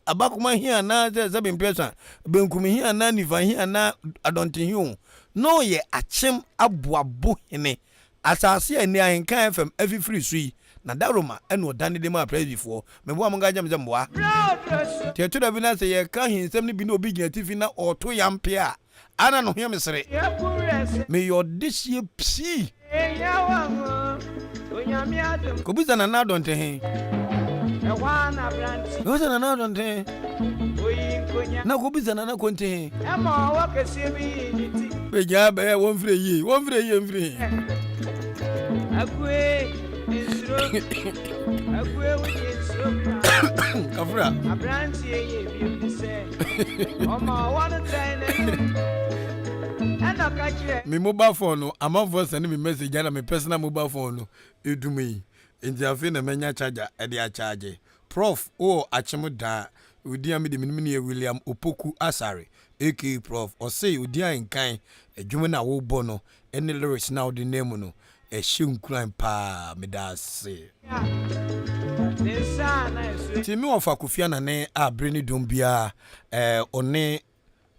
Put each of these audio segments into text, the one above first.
Abakoma he anaa sɛ sɛ bemprɛsa, benkum he anaa nifa he anaa adɔnte he oo, na ɔyɛ akyem aboa bo hene. Asaase a nnɛ ahenka a ɛfam afifiri so yi, na da Roma na ɔdane de maa Presbyfoɔ. Meboa mo nka nkyerɛ me sɛ mmoa. Nti ɛto da bi na sɛ yɛka he nsɛm no bi na obi gyina atifi na ɔɔto yɛ ampe a, Ana no hia me sere. Meyɛ ɔdehyeɛ pii. Kɔbisa Nana Addo nte he. Kɔbisa Nana Addo nte he. Na kɔbisa Nana Ko nte he. Bɛgyaa bɛɛ wɔmfrɛ yie. Wɔmfrɛ yie mfiri he. Kafra. Me mobile phone no amanfoɔ sɛne me message ana me personal mobile phone no ɛdum yi nti afei na manya charger ɛde akyagye prof wowɔ akyem daa wodin a mede menim no yɛ William Opoku Asare aka prof ɔse odin a nkan adwuma no a wobɔ no Ɛne lyrics no a wode nam mu no ɛhyɛ nkuran paa medase. Nti me wɔfa Kofi Anane a bere ne dom biara eh, ɔne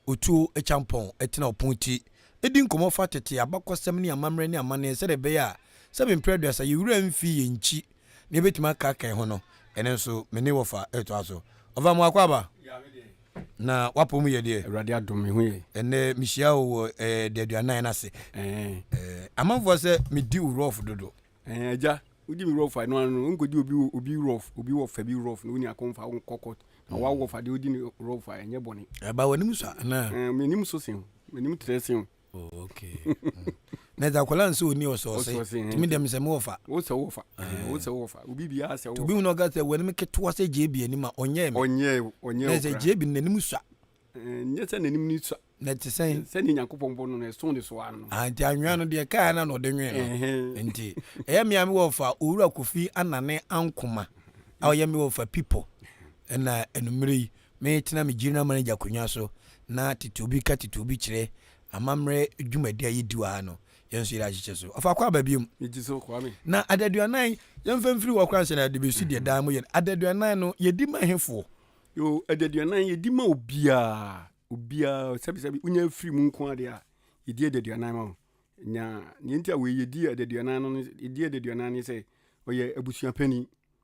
Otuo Akyampɔn ɛtena ɔpon ti ɛdi nkɔmmɔ fa tete abakɔsɛm ne amammerɛ ne amanneɛ sɛdeɛ ɛbɛyɛ a sɛ me mprɛ aduasa yɛwura mfi yɛn nkyi Nea ebetumi aka kɛn ho no, ɛno nso me ne wɔfa ɛtoa so. Ɔfa mo akɔ aba? Ya me deɛ. Na w'apɔ mu yɛ deɛ? Awurade adom me ho yɛ. Ɛnnɛ mehyia wo wɔ ɛɛ daduanan no ase. Ɛɛ. Ɛɛ amanfoɔ sɛ me di wo rough dodo. Ɛɛ agya, wo di me rough a, ɛno ara no, wo nkɔ di obi obi rough, obi wɔfa bi rough na wo nua kɔn fa wo nkɔ court. Na w'awɔfa deɛ wo di no rough a, ɛnyɛ bɔne. Ɛba w'anim so a anaa? Ɛɛ m'anim so sen wo, m'anim trɛ sen wo. Oh, okay. Mm. na ɛdze akwadaa nsɛ ɔni ɔsɔɔse tumi dɛm sɛ mewɔfa wosɛ wofa wosɛ wofa obi biara sɛ wobi hu na ɔka sɛ wɔnim ketewa sɛ gyeebi anim a ɔnyɛɛ me ɔnyɛɛ ɔnyɛɛ na sɛ gyeebi n'anim sua nyɛ sɛ n'anim ni sua na ɛte sɛn sɛne nyankopɔn bɔ no no ɛso ne so ara no ah, nti anwea no deɛ kaa na na ɔde nwee no nti ɛyɛ mmea me wɔfa owura kofi anane ankoma a ɔyɛ me wɔfa pipo ɛna anumere yi Metena me gyirinaman agya akonnwa so na tete obi ka tete obi kyerɛ amammerɛ dwumadi a yɛdi wɔ ha no, yɛn nso yɛde ahyehyɛ so. Ɔfa kɔ aba biom. Ne ti so, Kwame. Na adaduanan, yɛmfa mfiri hɔ koraa nhyɛ no adebɛsi deɛ daa moyɛ no, adaduanan no, yɛdi ma hefoɔ? Yoo, adaduanan, yɛdi ma obiara, obiara, sɛbesɛbe wonya afiri mu nko ara deɛ a, yɛdi adaduanan ma wo. Na deɛ nti a wei, yɛdi adaduanan no, yɛdi adaduanan ne sɛ, ɔyɛ abusua panin.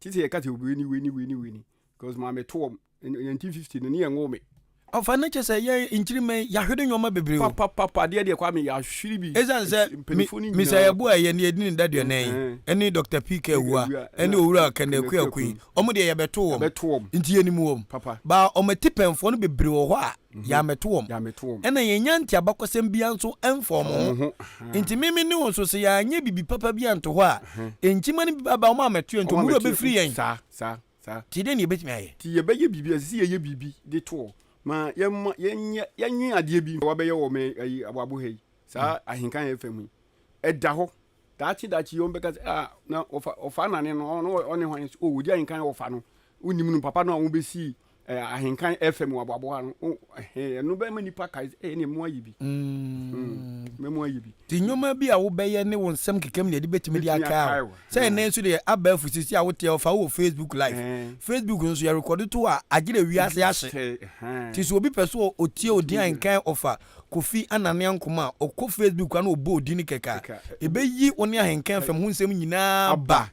Te sɛ yɛka sɛ obi ni wei ni wei ni wei ni because maame to wɔn in 1950 no ne yɛn nwoo me. Ɔfa no kyɛ sɛ yɛn nkyirimma yi yɛahwere nneɛma bebree o. Papapapa adeɛ deɛ Kwame yɛahwere bi. Ɛsiane sɛ Mister Yeboah ɛyɛ nea ɛdi ne daduanan yi ɛne Doctor PK Awuah ɛne Owura Kenneth Kweaku yi wɔn deɛ yɛbɛto wɔn nti yɛnim wɔn but wɔn atipɛnfoɔ no bebree wɔ hɔ a yɛammɛto wɔn, ɛnna yɛannya nteabakɔsɛm biara nso amfa wɔn ho. Enti me me ne wo nso, sɛ yɛanyɛ biribi papa bi anto hɔ a, nkyima no bi bɛba wɔn a wɔammɛto yɛn nti, wɔn werɛ bɛfiri yɛn. Enti dɛn na yɛbɛtumi ayɛ? Enti yɛbɛyɛ biribi, ɛsɛ sɛ yɛyɛ biribi de to hɔ ma yɛmma yɛnyɛ, yɛnwen adeɛ bi. Wɔabɛyɛ wɔ me ayi aboabo ha yi, saa ahenkan yɛ fam yi, ɛda hɔ. Daakye daakye yi wɔn bɛka sɛ, ah, na ɔfa ɔfa nane no, ɔno ɔne hwan? O, wɔdi ahenkan ɔfa no, wonim no, papa no a wɔbɛsii eh, ahenkan ɛfɛ mu aboaboa ano oh, eh, ɛno bɛma nnipa kae sɛ eh, ɛne mu ayɛ bi mm. mm. mɛmu ayɛ bi nti nnwoma bi a wobɛyɛ ne wo nsɛm kekam ne ɛde bɛtumi de akae wo sɛ ɛnɛ nso deɛ aba afu sisi a woteɛ ɔfa wɔ facebook live facebook nso yɛrekɔde to a agye dɛ wiase ahye nti sɛ obi pɛ so ɔtie odin a nkan ɔfa kofi anane ankoma a ɔkɔ facebook a na ɔbɔ odin no kɛka ɛbɛyi wo ne ahenkan fam ho nsɛm nyinaa ba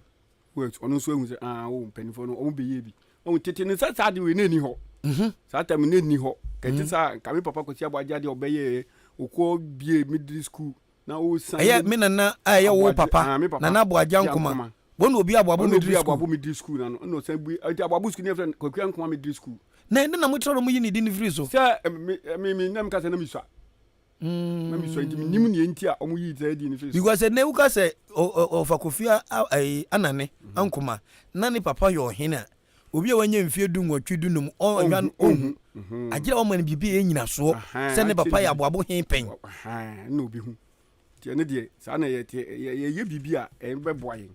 wait ɔno nso ehu sɛ aa o mpanyinfoɔ no wɔn bɛyɛ bi ɔn tete no sɛ saa de wei na ɛni hɔ mhm. saa tam na ɛni hɔ kɛte mhm. saa nka me papa kɔsi abɔ agya deɛ ɔbɛyɛɛ okɔ bie middle school na o san ɛyɛ me nana a ɛyɛ wo papa nana abɔ agya nkoma wɔn na obi abɔ abo middle school wɔn na obi abɔ abo middle school na no ɛna ɔsan bue ɛti abɔ abo school ne yɛ fɛ kɔkura nkoma middle school na ɛde na mo kyerɛ ɔmo yi ne di ne firi so sɛ mi mi nam kasa na mi sua na mi sua nti mi nim nea nti a wɔn yii saa din no fi so. because ɛnna wuka sɛ ɔfa kofi ɛyi anane mhm. ankoma na ne papa yɛ ɔhene a obi a wanya mfie du nwɔtwe du num ɔnhwa no ɔnhu mhm. agyina wɔn ma no biribi yɛ nyinasoɔ sɛ ne papa yɛ aboabo he pɛn. ɛnna obi hu nti ɛne deɛ saa na yɛ yɛyɛ biribi a ɛbɛboa yɛn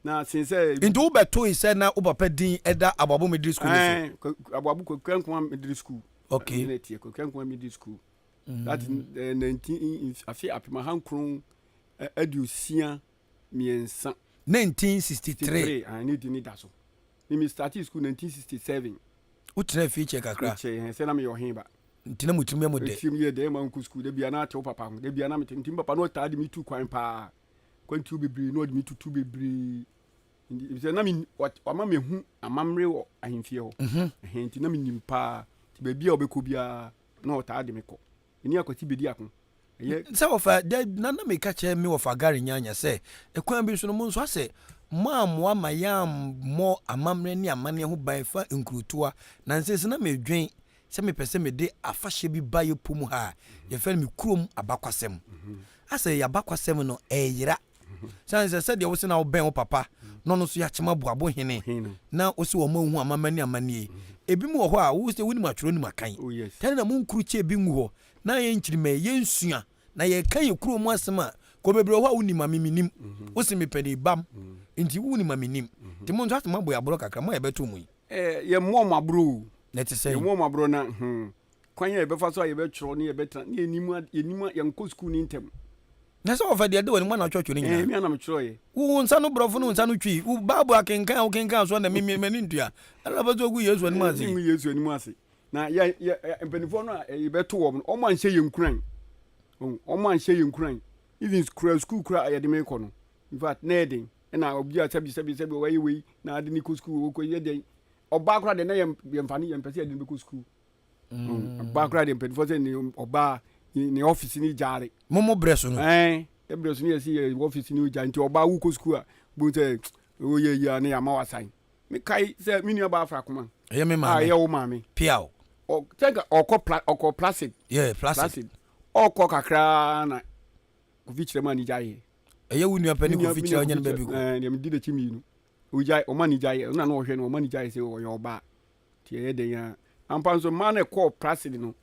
na sin sɛ. nti wo bɛ to yi sɛ na wo papa din ɛda aboabo middle school ne so. aboabo kwakura nkoma middle school. okay ɛna tiɛ kwakura nkoma middle school. that is eh, nineteen afe apem ahankron eh, aduosia mmiɛnsa 1963 ah, ne di ne da so ne me started school 1967 wotrɛ fie kyɛ kakra kyɛ hɛn sɛ na meyɛ ɔhen ba nti na motumi yɛ mo dɛ ɛtirim yɛ dɛn ma nkɔ sukuu da bia na atew papa ho da bia na mete nti me papa no ɔtaa de metu kwan paa kwantuo bebree na ɔde me tutu bebree Nti- efisɛ na men- ɔt- ɔma mehu amammerɛ wɔ ahemfie hɔ Mhm. Ɛhɛn nti na menim paa nti baabi a ɔbɛkɔ biara Na ɔtaa de me kɔ. Me ne Akwati bedi ako. Ɛyɛ. Sɛ wɔfa da na na meka kyerɛ me wɔfa Gary Nyanya sɛ, kwan bi so no, mo nso asɛ moammoa ma yɛammɔ amammerɛ ne amanneɛ ho ban fa nkurotoa. Na nsese na medwen sɛ mepɛ sɛ mede afahyɛ bi ba yɛpɔ mu ha a yɛfrɛ no me kurom abakwasɛm. Asɛ yɛn abakwasɛm no ɛreyera. Sane sɛ sɛdeɛ wo se na wobɛn wo papa na ɔno nso yɛ akyemaboa bo hene na wo se wɔn ma wohu amama ne amanneɛ yi, ebinom wɔ hɔ a wo sɛ wonim atwerɛ nim akan. Tane na monkuru kyɛ bi ngu hɔ na ayɛ nkyirimɛn, yɛnsua na yɛka yɛn kuro mu asɛm a kɔ bebree wɔ hɔ a wonim ma me mennim. Wo se mepɛ ne bam nti wonim ma mennim. Nti mo nso ase moabɔ yɛn aborɔ kakra, mo a yɛbɛto mo yi. Yɛmmɔ wɔn aborɔ o. Na ɛte sɛn? Yɛmmɔ wɔn aborɔ na hmm, kwan a yɛbɛfa so a yɛbɛtwerɛ ne yɛbɛtena ne yɛnim, yɛnkɔ sukuu ne ntɛm. Na sɛ wɔfa diade wɔ ne mu anatwɔtwo no nyinaa. Ɛɛ, me a na metwerɛeɛ. Wo wo nsa no borɔfo ne wo nsa no twi. Wo Bible akenkan a wokenkan soɔ na memmie m'ani ntua. Ɛna ɔpɛ sɛ ɔgu Yesu anim ase. Mengu Yesu anim ase. Na yɛ, yɛ, mpanimfoɔ no a yɛbɛto wɔn no, wɔn anhyɛ yɛn nkuran. Wɔn anhyɛ yɛn nkuran. Even kura sukuu kura a yɛde me kɔ no, in fact, na ɛyɛ den. Ɛna obi a sɛbi sɛbi sɛbi wɔayɛ wei na ade ne kɔ sukuu, wɔkɔ yɛ dɛn. Ɔbaa koraa deɛ na yɛn, yɛmfa no, yɛmpɛ sɛ yɛde no bɛkɔ sukuu. mm. ba koraa deɛ mpanimfoɔ sɛ ne ɔbaa ne ɔfisi ne gyaare momo berɛ so no ɛberɛ so ne yɛsi yɛ ɔfisi ne gyaare nti ɔbaa wokɔ sukuu a bohu sɛ woyɛ yi a ne yɛama wasan mekae sɛ me nua baa fra koma ɛyɛ me maame ɛyɛ wo maame piaw sɛnka ɔkɔ pla ɔkɔ placid yeah placid ɔkɔ kakraa na kofi kyerɛ mu a ne gyaeɛ ɛyɛ wo nua pɛ ne kofi kyerɛ ɔnyɛ no baabi kɔ ɛɛ deɛ medi n'akyi mmienu ogyae ɔma ne gyaeɛ ɔna na ɔhwɛ no ɔma ne gyaeɛ sɛ ɔyɛ ɔbaa Nti ɛyɛ dɛn ara. Ampa nso, mmaa no a ɛkɔɔ Praside no,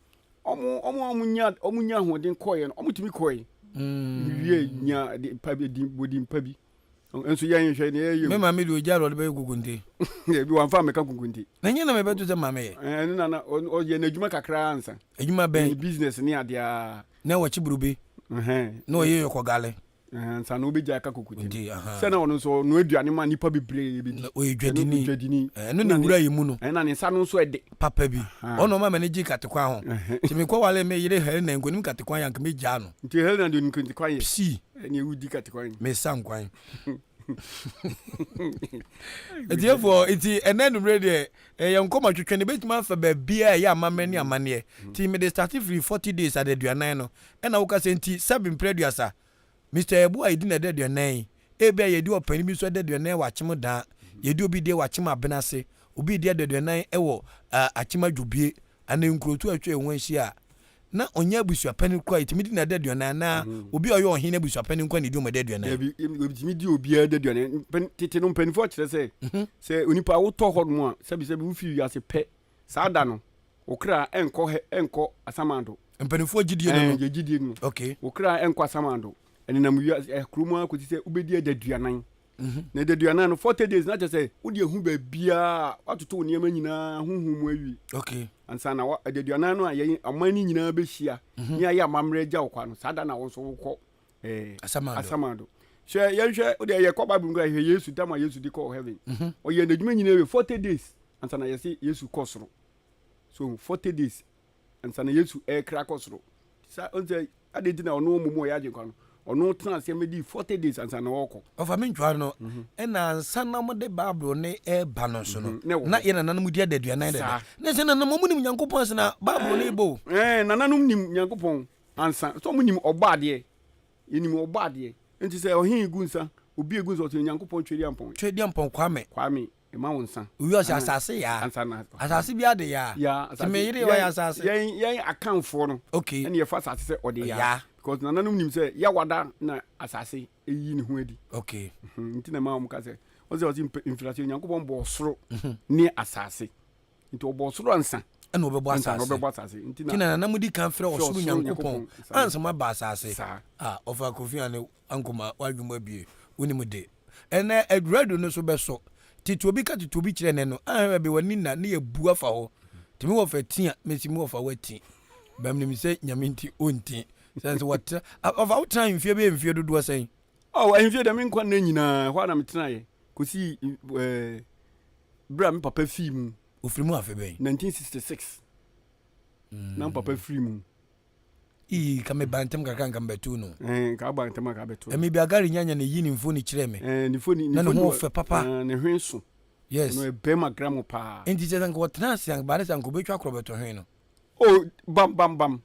wɔn a wɔnyaa ahoɔden kɔeɛ no, wɔtumi kɔe. Mm. Wie nya pa bi, din pa bi. Nso yɛn nhwɛ ne yɛyɛ. Me maame de ogya lɔre bɛyɛ kukunte. Ebi wɔn afa mɛka kukunte. Na nyɛ na mɛ bɛto sɛ maame yɛ. Eh, ɛno nana ɔyɛ n'adwuma kakra ansa. Adwuma bɛn. Business ne adeɛ. Na wɔkye burube. Na ɔyɛ yɔkɔ gale. ansa na wobɛgya ɛka kokote no sɛ na ɔno nso ɔno aduane ma nnipa bebree bɛdi na ɔyɛ dwadini dwadini ɛno ne wura yɛ mu no ɛna ne nsa no nso ɛde papa bi ɔno ɔma m'ani gye katekwan ho nti mekɔ wale me yere Helena nkonim katekwan yɛ anka mɛgyaa no nti Helena de nkatekwan yɛ si ɛne wodi katekwan mesa nkwan ɛtiɛfoɔ nti ɛnɛ numere deɛ ɛyɛ nkɔmɔ twetwe no bɛtumi afa baabiaa ɛyɛ amammerɛ ne amanneɛ nti mede starte firi 40 days adaduanan no ɛna wo kasa nti sɛbe mprɛ aduasa Mister Yɛboa yɛdi no ɛda aduanan ebia yɛdi ɔpani bi nso ɛda aduanan wɔ akyem daa yɛdi obi deɛ wɔ akyem abena ase obi di ɛda aduanan ɛwɔ uh, akyem adwobie anaa nkurotu a atwa ɛho ahyia a na ɔnyɛ abusuapani koraa yɛtumi di no ɛda aduanan anaa mm-hmm. obi a ɔyɛ ɔhene abusuapani nkoa na ɛdi ɔma ɛda aduanan yɛtumi di obiara ɛda aduanan tete no mpanimfoɔ akyerɛ sɛ mhm. sɛ onipa wotɔ hɔ nom a sɛbisɛbi wofi wiase pɛ Saa da no, wo kra nkɔ hɛ nkɔ asamando. Mpanimfoɔ gyidie no no. Ɛɛ, yɛn gyidie no. Okay. Wo kra nkɔ asamando. Ɛnenam wiase ɛɛ kuro mu ara kɔsi sɛ wobɛdi adaduanan. Mhm. Na adaduanan no, forty days na kyerɛ sɛ wode ahu baabiara a watoto wo nneɛma nyinaa honhom mu awie. Okay. Ansa na wa adaduanan no a yɛn ɔman no nyinaa bɛhyia mhm. ne ayɛ amammerɛ agya wo kwa no, saa da na wo nso wokɔ eh, asamado. asamado hwɛ yɛnhwɛ wode ɛyɛ kɔ bible nkura hwɛ yesu tam a yesu de kɔɔ heaven mhm. ɔyɛ n'adwuma nyinaa wɛ 40 days ansa na yɛse yesu kɔ soro so 40 days ansa na yesu ɛkra kɔ soro sa ɔnsɛ ade nti na ɔno mmom ɔyɛ agyenkwa no ɔno tena aseɛ mɛdi 40 days ansa na ɔkɔ ɔfa me ntwa no mhm. ɛna ansa na mode bible ne ɛba no so no mhm. na yɛ nananom di ada aduanan dada ne sɛ nananom ɔmu nim nyankopɔn asena bible no ɛbɔ nananom nim nyankopɔn Ansa, sɛ ɔmo nim Ɔbɔadeɛ, yɛnim Ɔbɔadeɛ. Enti sɛ ɔhe gu nsa, obi gu nsa, ɔse Nyankopɔn Twedeampɔn. Twedeampɔn Kwame. Kwame, ma wo nsa. Owie ɔse Asase yaa. Ansa na. Asase biara de yaa. Yaa, asase. Nti me yere ɔyɛ asase. Yɛn, yɛn Akanfoɔ no. Ok. Ɛna yɛfa asase sɛ ɔde yaa. Ɔyaa. Because nananom nim sɛ Yawada na asase yi ne ho adi. Ok. Nti na ɛma ɔmo ka sɛ, ɔse, ɔse mfitiaseɛ Nyankopɔn bɔɔ soro ne asase. nti ɔbɔ ɔsoro ansa ɛna ɔbɛbɔ asase ɔbɛbɔ asase nti na na na mo di kan frɛ ɔsoro nyankopɔn ansa mo aba asase a ɔfa kofi ane ankoma wadwuma abie wonim de ɛnɛ aduradu no so bɛsɔ tete obi ka tete obi kyerɛ ne no ahwɛ bi wani na ne yɛ bu afa hɔ tumi wɔ fɛ tia mesi mu wɔ fa wati bɛm nim sɛ nyame nti ɔnti sɛ nso wɔtra ɔfa wotra mfie bɛyɛ mfie dodoɔ sɛn ɔ ahemfie dɛ me nkwa nna nyinaa hɔ a na metenaeɛ kɔsii berɛ a me papa fii mu. Ɔfiri mu afe bɛn? 1966 na me papa firi mu. Ii, ka me ba ntɛm kakra nka me bɛto no. Ɛɛ, nka aba ntɛm a ka bɛto no. Ɛmi bi agari nyanya na eyi ne mfoni kyerɛ me. Ɛɛ, ne foni, ne foni. Na ne ho fɛ papa. Ɛɛ, ne hwen so. Yes. Ɛno ɛbɛn ma gram paa. Nti kyerɛ sɛ nka ɔtena ase anka ba ne sɛ nka ɔbɛtwa korɔ bɛto hwen no. Oh, bam bam bam.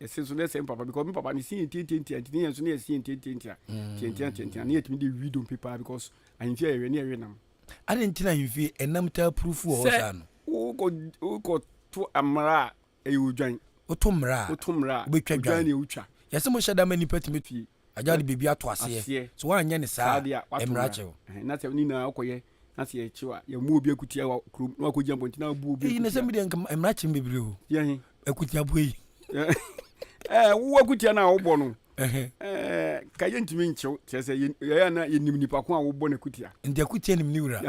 ɛsɛ nso na ɛsɛ mpapa because me papa ne si yɛn ntiantiantia nti ne yɛn nso ne yɛsi yɛn ntiantiantia mm. tiantiantiantia ne yɛtumi de wi dompe paa because ahemfie a yɛwɛ ne yɛwe nam ade nti na ahemfie ɛnam taa purufu wɔ hɔ saa no wokɔ wokɔ to mmara a ɛyɛ odwan woto mmara a wotwa dwan ne wotwa yɛsɛ mo hyɛ da ma nnipa tumi fie agya de biribi ato aseɛ sɛ woanyɛ ne saa a mmara akyɛ wo na sɛ ne nyinaa wokɔyɛ na sɛ yɛkyew a yɛmu obi akutia wɔ kurom na wakɔgya mpɔnti na abu obi akutia. na sɛ medeɛ nka mmara kyem bebree o yɛhe akutia boa yi eh, wo akutia no a wobɔ no eh, ka yɛntumi nkyew kyerɛ sɛ yɛyɛ na yɛnim nipa ko a wobɔ no akutia nti akutia nim ne wura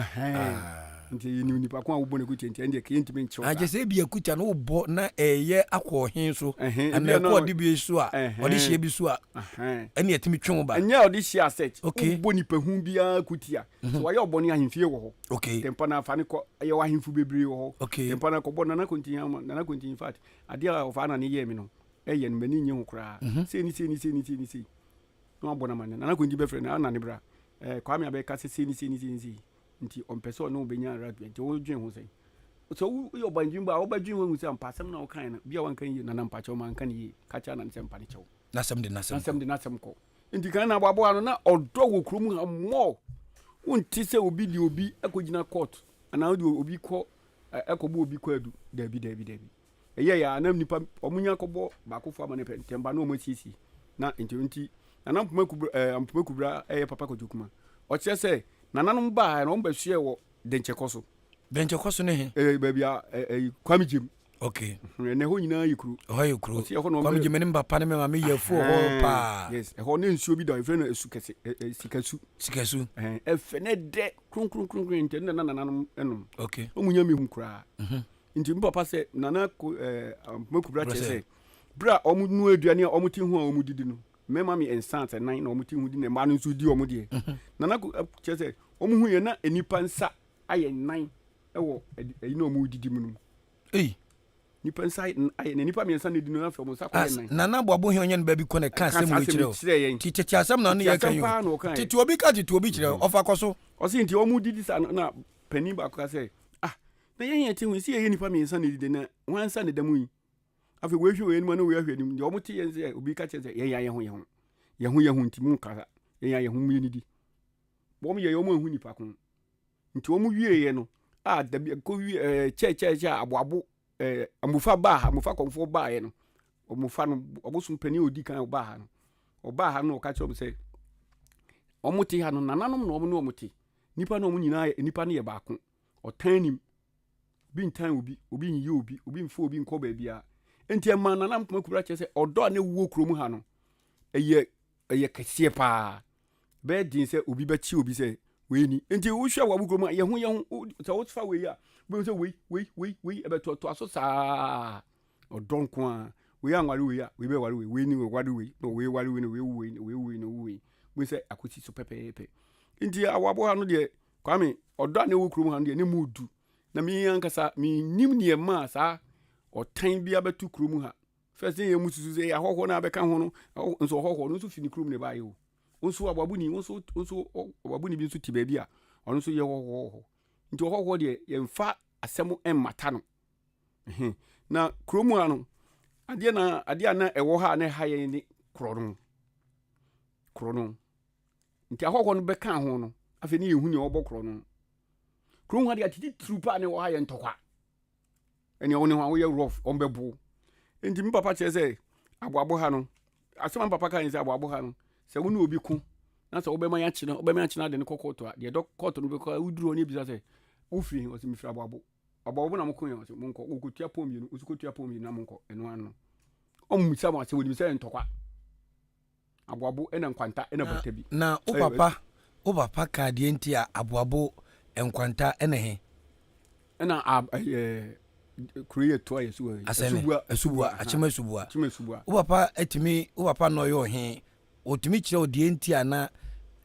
Nti yɛnim nnipa ko a wobɔ no akutia nti ɛndeɛ ka yɛntumi nkyerɛw saa. Akyɛ sɛ ebi akutia no wobɔ na ɛyɛ akɔ ɔhe so anaa ɛkɔ ɔde bi so a ɔde hyia bi so a ɛne ɛtumi twe wo ba. Ɛnyɛ ɔde hyia asɛt wobɔ nipa hu biara akutia sɛ wayɛ ɔbɔne ahemfie wɔ hɔ tɛmpa no afa ne kɔ ɛyɛ wɔ ahemfo bebree wɔ hɔ tɛmpa no akɔbɔ nana kontin ama nana kontin in fact adeɛ a ɔfa ana ne yɛɛ me no ɛyɛ no m'ani nye ho koraa sei ne sei ne sei ne sei ne sei na wabɔ no ama nana kontin bɛfrɛ no ana ne bra kwame abɛka sɛ sei ne sei ne sei ne sei nti ɔmpɛ sɛ ɔne wo bɛnya rugby nti wodwen ho sɛn sɛ woyɛ ɔbandwembo a wobɛdwen ho ahu sɛ ampa asɛm no a wokae no bia wanka yie nana mpa kyɛw manka no yie ka kyerɛ anane sɛ mpa ne kyɛw nasɛm de nasɛm de nasɛm kɔ nti kan na aboaboa no na ɔdɔ wɔ kurom ha mmɔ wonte sɛ obi de obi akɔgyina court anaa wode obi kɔ ɛkɔbɔ obi kɔ adu daabi daabi daabi Ɛyɛe ara na nnipa wɔnya kɔbɔ baakofo amanneɛ pɛ, ntɛm ba na wɔasiesie. Na enti ɛno nti, Nana Mpoma Kubra, eh, Mpoma Kubra yɛ Papa Kwadwo Kuma. Ɔkyerɛ sɛ, nananom baae na wɔbɛsoɛɛ wɔ Denkyɛkɔ so. Denkyɛkɔ so ne he? Eh, baabi a eh, eh, Kwame Gyem. Ok. Mhm, ɛnɛ hɔ nyinaa yɛ kuro. Ɛhɔ yɛ kuro. Ɔsi ɛhɔ na wɔn Kwame bɛ- Gyem ne me papa ne me maame yɛ afuo hɔ Ɛhɛn, paa. Yes, ɛhɔ na nsuo bi da hɔ, yɛfrɛ no asu kɛse, eh, eh, sikasu. Sikasu. Ɛhɛn, ɛfɛ na ɛdɛ kronkronkronkron, enti ɛno na na nananom nom. Ok. Wɔn mu nya mehu koraa. Nti me papa sɛ Nana Mako bra kyerɛ sɛ berɛ a wɔn nua aduane a wɔn te ho a wɔn didi no mmarima me nsa sɛ nan na wɔn te ho di na mmaa no nso di wɔn deɛ mhm. Nana kyerɛ sɛ wɔn ho yɛ na nnipa nsa ayɛ nan wɔ ɛyi na wɔn didi mu no eyi nipa nsa ayɛ na nipa mmiɛnsa na edi no afɛ wɔn nsa kɔ yɛ nan Nana Aboabo hɛn ɔnyɛ no baabi kɔ na ɛka asɛm wɔ kyerɛ yɛn ti tete asɛm na ɔno yɛ kan yi tete obi ka tete obi kyerɛ mhm. ɔfa kɔ so ɔsi nti wɔn didi sa na panyin baako ka sɛ Na yɛn yɛn ti ho sɛ yɛyɛ nnipa mmiɛnsa na ɛdidi na wɔn ansa na ɛda mu yi. Afei wei hwɛ wei anim na wei ahwɛ anim. Deɛ wɔn te yɛn sɛ obi ka kyerɛ sɛ yɛn yɛ yɛn ho yɛn ho. Yɛn ho yɛn ho nti mu kasa. Yɛn yɛ yɛn ho mu yɛn didi. Wɔn yɛ yɛn wɔn ahu nipa ko. Nti wɔn wie yɛ no a dabi ɛkɔ wie ɛɛ eh, kyɛ kyɛ kyɛ aboabo ɛɛ eh, amufa baa ha amufa kɔnfoɔ baa yɛ no. Wɔfa no ɔbosom panin odi kan ɔbaa ha no. Ɔbaa ha no ɔka kyerɛ wɔn sɛ wɔn te ha no nananom na wɔn ne wɔn te. Nipa na wɔn nyinaa nipa no yɛ baako. Ɔtan nim. Obi ntan obi, obi nyi obi, obi mfa obi nkɔ baabiara. Enti ɛma Nana Nkrumah Kubra kyerɛ sɛ ɔdɔ a na ɛwɔ kurom ha no, ɛyɛ ɛyɛ kɛseɛ paa. Ɛbɛyɛ den sɛ obi bɛte obi sɛ wei ni. Enti wohwɛ a wɔn kurom a, yɛn ho yɛn ho, wo- sɛ wofa wei a, wobɛhu sɛ wei, wei, wei, wei, ɛbɛtoatoa so saa. Ɔdɔ nko ara. Wei anware wei a, wei bɛware wei, wei ne wei ware wei, na wei ware wei, na wei wu wei, na wei wu wei, na wei wu wei. Wobɛhu sɛ akɔsi so pɛpɛɛpɛ. Enti awɔ aboha no deɛ, Kwame, ɔdɔ a na ɛwɔ kurom ha no deɛ, na ɛmu du. Na me ankasa, mennim deɛ ɛmaa saa ɔtan bi abɛto kurom ha. First, na yɛn mu susu sɛ ɛyɛ ahɔhoɔ no a bɛka ho no, ɛhɔ nso ɔhɔhoɔ no nso fi ne kurom na ɛbaeɛ o. Wo nso ɔbabuni, wo nso, wo nso ɔbabuni bi nso te baabi a ɔno nso yɛ ɔhɔhoɔ wɔ hɔ. Nti ɔhɔhoɔ deɛ, yɛmfa asɛm mmata no. Ehe. Na kurom ha no, adeɛ na adeɛ a na ɛwɔ ha a na ɛha yɛn ne korɔ no. Korɔ no. Nti ahɔhoɔ no bɛkaa ho no, afei ne yɛhu nea ɔbɔ korɔ no. Kuro ho adeɛ atititiriw paa na ɛwɔ ha yɛ ntɔkwa. Ɛnea wo ne ho a woyɛ rough, wɔn bɛbo. Nti me papa kyerɛ sɛ aboabo ha no, asɛm a me papa kaa ne sɛ aboabo ha no, sɛ wo ne obi ko na sɛ wobɛma yɛakye no, wobɛma yɛakye no ade no kɔ kɔɔto a, deɛ ɛdɔ kɔɔto no bɛkɔ a, woduru hɔ na ebisa sɛ wofiri he? Ɔse mefiri aboabo. Aboabo na mokoe a? Ɔse monkɔ, wɔkɔtua pɔn mmienu, wosu kɔtua pɔn mmienu na monkɔ. Ɛno ano no, wɔmmisa mo asɛm, wɔnim sɛ ɛyɛ ntɔkwa. Aboabo na nkwanta na bata bi. Na wo papa wo papa kaa deɛ nti a aboabo, nkwanta ne he? Ɛna ɛyɛ kuro yɛ toa yɛ suwa asubua asubua akyem asubua akyem asubua wo papa atumi wo papa na ɔyɛ ɔhe ɔtumi kyerɛ wo deɛ nti a na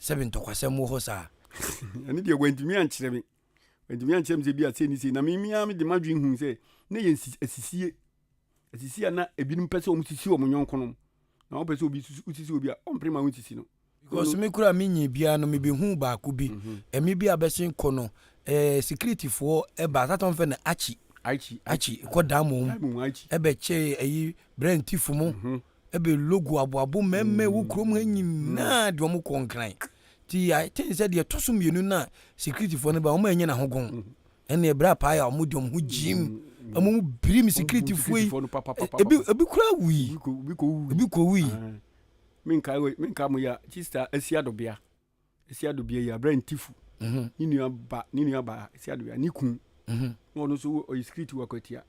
sɛbi ntɔkwasɛm wɔ hɔ saa ɛne deɛ wantumi ankyerɛ me wantumi ankyerɛ me sɛ bi a sɛ ni sɛ na memia mede madwen hu sɛ na yɛ asisie Asisi a na ebinom pɛ sɛ wɔsisi wɔn yɔnkonom, na wɔpɛ sɛ obi sisi obi a, ɔmpere ma wonsisi no. Because me koraa mennyee biaa no mebehuu baako bi, ɛme bi a bɛsen kɔ no eh security foɔ ɛba that one fɛ no Archie, Archie, Archie ɛkɔ Diamond mu, Diamond mu, Archie. ɛbɛkyɛ ɛyi brɛ ntif mo, ɛbɛ logo aboabo mɛmɛ ɛwɔ kurom ha nyinaa de wɔn kɔ Nkran, nti I think sɛ deɛ ɛtɔ so mmienu no a security foɔ no baeɛ wɔn annya n'ahogon, Ɛnna ɛberɛ a paaeɛ a wɔn de wɔn ho gyiim wɔn mu birim sikiritifoɔ yi ebi ebi kura wui ebi kɔ wui. menka menka mo ya sista asia dobea asia dobea yi abrantifu mhm. ne nua ba ne nua ba asia dobea ne kun mhm. na ɔno nso ɔyɛ sikiriti wɔ akwatia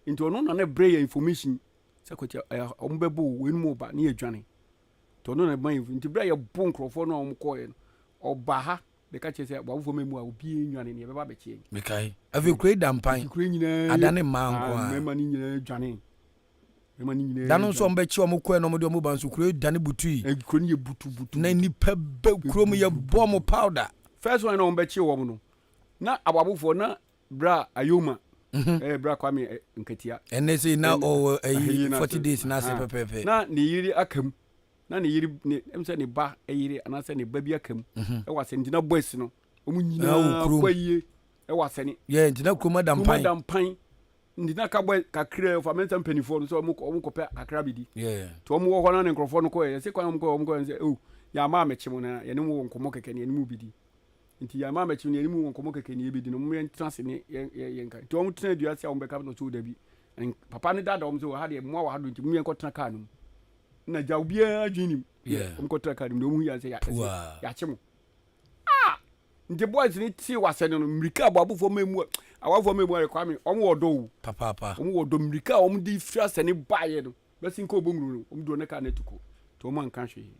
nti ɔno na ne brɛ yɛ information sɛ akwatia wɔn bɛbɔ wɔn mu ɔba ne yɛ dwane nti ɔno na ɛma yɛ nti brɛ yɛ bo nkurɔfoɔ no a wɔn kɔɛ no ɔba ha Bɛka kyerɛ sɛ, W'awofoɔ mma mu a obiara nnwane, nea ɛbɛba abɛkye yɛn. Mekae. Afei kuro yi da mpan. Enti kuro yi nyinaa yɛ. Adane mmaa nko ara. Mmarima no nyinaa dwanee. Mmarima no nyinaa. Da no nso a wɔbɛkye wɔn kɔɛ na wɔde wɔn ba nso, kuro yi dane butui. Na kuro no yɛ butubutu. Na nnipa bɛ kuro mu yɛ bɔ wɔn powder. First one na wɔbɛkye wɔn no, na awawofoɔ na bra Ayoma. Ɛɛ bra Kwame Nkatia. Ɛnɛ sei na ɔwɔ ɛyi forty days na ase pɛpɛɛpɛ. Na ne yere aka mu. na ne yere ne ɛmu sɛ ne ba yere anaasɛ ne ba bi aka mu mhm. ɛwɔ asɛne ntina bɔ asi no wɔn nyinaa kɔ ayie ɛwɔ asɛne yɛ ntina kurom ada mpan kurom ada mpan ntina ka bɔ kakra ɔfa mɛnsa mpanimfoɔ no sɛ wɔn kɔ wɔn kɔ pɛ kakra bi di to wɔn wɔ hɔ na ne nkorɔfoɔ no kɔ yɛ ɛsɛ kwan wɔn kɔ wɔn kɔ yɛ sɛ o yɛ ama amɛkye mu na yɛn ne mu wɔ nkɔmɔ kɛkɛ ne yɛn ne mu bi di nti yɛn ama amɛkye mu ne yɛn ne mu wɔ nkɔmɔ kɛkɛ ne yɛ bi di na wɔn yɛn tena se ne yɛn yɛn nka nti wɔn tena dua se a wɔn bɛka no so dabi papa ne dada wɔn sɛ wɔ ha deɛ mmoa wɔ ha do nti mu yɛn kɔ tena kaa no mu na gya obiara adwene nim yeah. ɔmkɔtra kar mu deɛ ɔmuhu yɛ sɛ yɛakye mo ah! nti boys no tee wasɛ no no mmirika aboabofoɔ ma mu awafoɔ ma mu ayɛ kwame ɔm wɔ ɔdɔ o papaapa ɔm wɔ ɔdɔ mmirika a ɔm de firi asɛ ne baeɛ no bɛsi nkɔ ɔbɔnwuru no ɔm duro ne kar no atuko nti ɔm anka hwee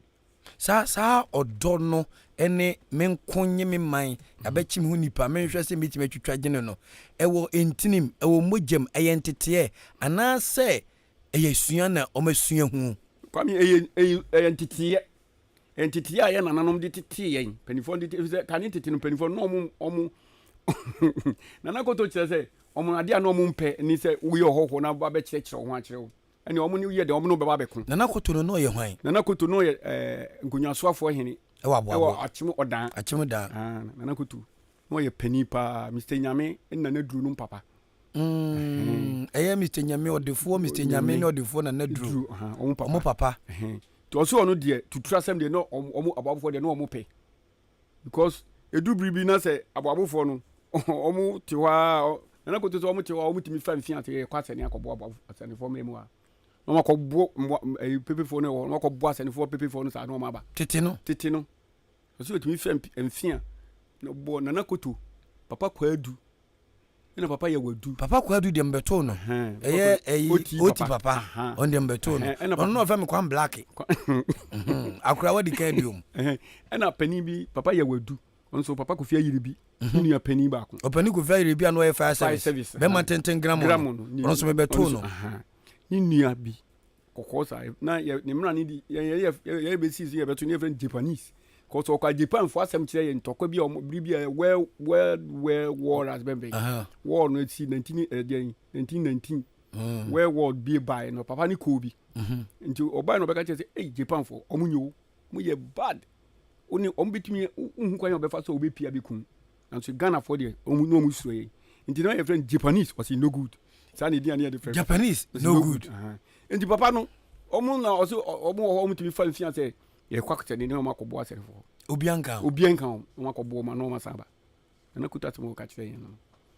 saa saa ɔdɔ no ne me nko nye me man abɛkyim ho nipa menhwɛ sɛ mɛtumi atwitwa gyene no ɛwɔ ntinim ɛwɔ mogyam ɛyɛ nteteɛ anaasɛ ɛyɛ asua na wɔasua ho. Kwame, Ɛyɛ, ɛyɛ, ɛyɛ nteteeɛ. Ɛyɛ nteteeɛ a yɛn nananom de tetee yɛn. Mpanimfoɔ de, ɛfiri sɛ kane tete no mpanimfoɔ no, na wɔn, wɔn, Nana Koto kyerɛ sɛ, wɔn adeɛ a na wɔn mpɛ ni sɛ woyɛ ɔhɔhoɔ na ba bɛkyerɛkyerɛ wo ho akyerɛ wo. Ɛne wɔn ne woyɛ dɛn, wɔn ne wo bɛba abɛko. Nana Koto no, na ɔyɛ hwan? Nana Koto, na ɔyɛ ɛɛ nkonnwasoafoɔ hene. Ɛwɔ Aboabo. Ɛwɔ Akyem Ɔdan. Akyem Ɔdan. Aa, Nana Koto, na ɔyɛ panin paa, Mister Nyame ne Nana Duro nom papa. Mm, ɛyɛ Mr. Nyame ɔdefoɔ, Mr. Nyame ne ɔdefoɔ na naduro. Ɔmo papa. Ɔmo papa. Nti ɔsɛ ɔno deɛ tutura asɛm deɛ na ɔmo aboabofoɔ deɛ na ɔmo pɛ. Because edu biri bi na sɛ aboabofoɔ no ɔmo te hɔ a nana koto sɛ ɔmo te hɔ a ɔmo tumi fa mfin ase kɔ asɛne akɔboa aboa asɛnefoɔ mmerɛ mu a na ɔmo akɔboa mmoa ɛyi pepefoɔ no wɔ hɔ na ɔmo akɔboa asɛnefoɔ pepefoɔ no saa na ɔmo aba. Tete no. Tete no. Ɔsɛ ɔtumi fɛ mfin a na bɔ nana koto papa kwaa du. ɛna papa yɛ wadu. papa kwadu deɛ mbɛtoo no ɛyɛ ɛyi oti papa ɔno deɛ mbɛtoo no ɔno na ɔfɛ me kwan black mhm. akora wadi kan biom ɛna panin bi papa yɛ wadu nso papa kofi ayiri bi mhm. nua panin baako ɔpanin kofi ayiri bi a na ɔyɛ fire service bɛma tenten gramu no ɔno nso mebɛtoo no ne nua bi kɔkɔɔ saa na yɛ ne mmara no di yɛn yɛ yɛ yɛ bɛsi so yɛbɛto ne yɛfrɛ no japanese kɔsɔ ɔkɔ japanfoɔ asɛm kyerɛ yɛ ntɔkwa bi a ɔmo biribi a world world world war as bɛnbɛn war no si nineteen ɛdeɛn eh, nineteen nineteen mm. world war bi baeɛ no papa ne koo bi mhm. nti ɔbaeɛ no ɔbɛka kyerɛ sɛ ei japanfoɔ ɔmo nyɛ o mo yɛ bad wone ɔmo bɛtumi wohu kwan a ɔbɛfa so a wobɛpia bɛkum Nanso Ghanafoɔ deɛ wɔn na wɔn suro yɛn nti na yɛfrɛ no Japanese ɔsi no good saa na edin a ne yɛde frɛ Japanese no good nti papa no wɔn na ɔsi wɔn wɔ hɔ wɔn tumi fa nsia sɛ yɛkɔ akɔsɛ ne ne wɔn akɔboa asɛrefoɔ obiara nka ho obiara nka ho wɔn akɔboa wɔn na wɔn asan aba na kuta asɛm wɔka kyerɛ yɛn no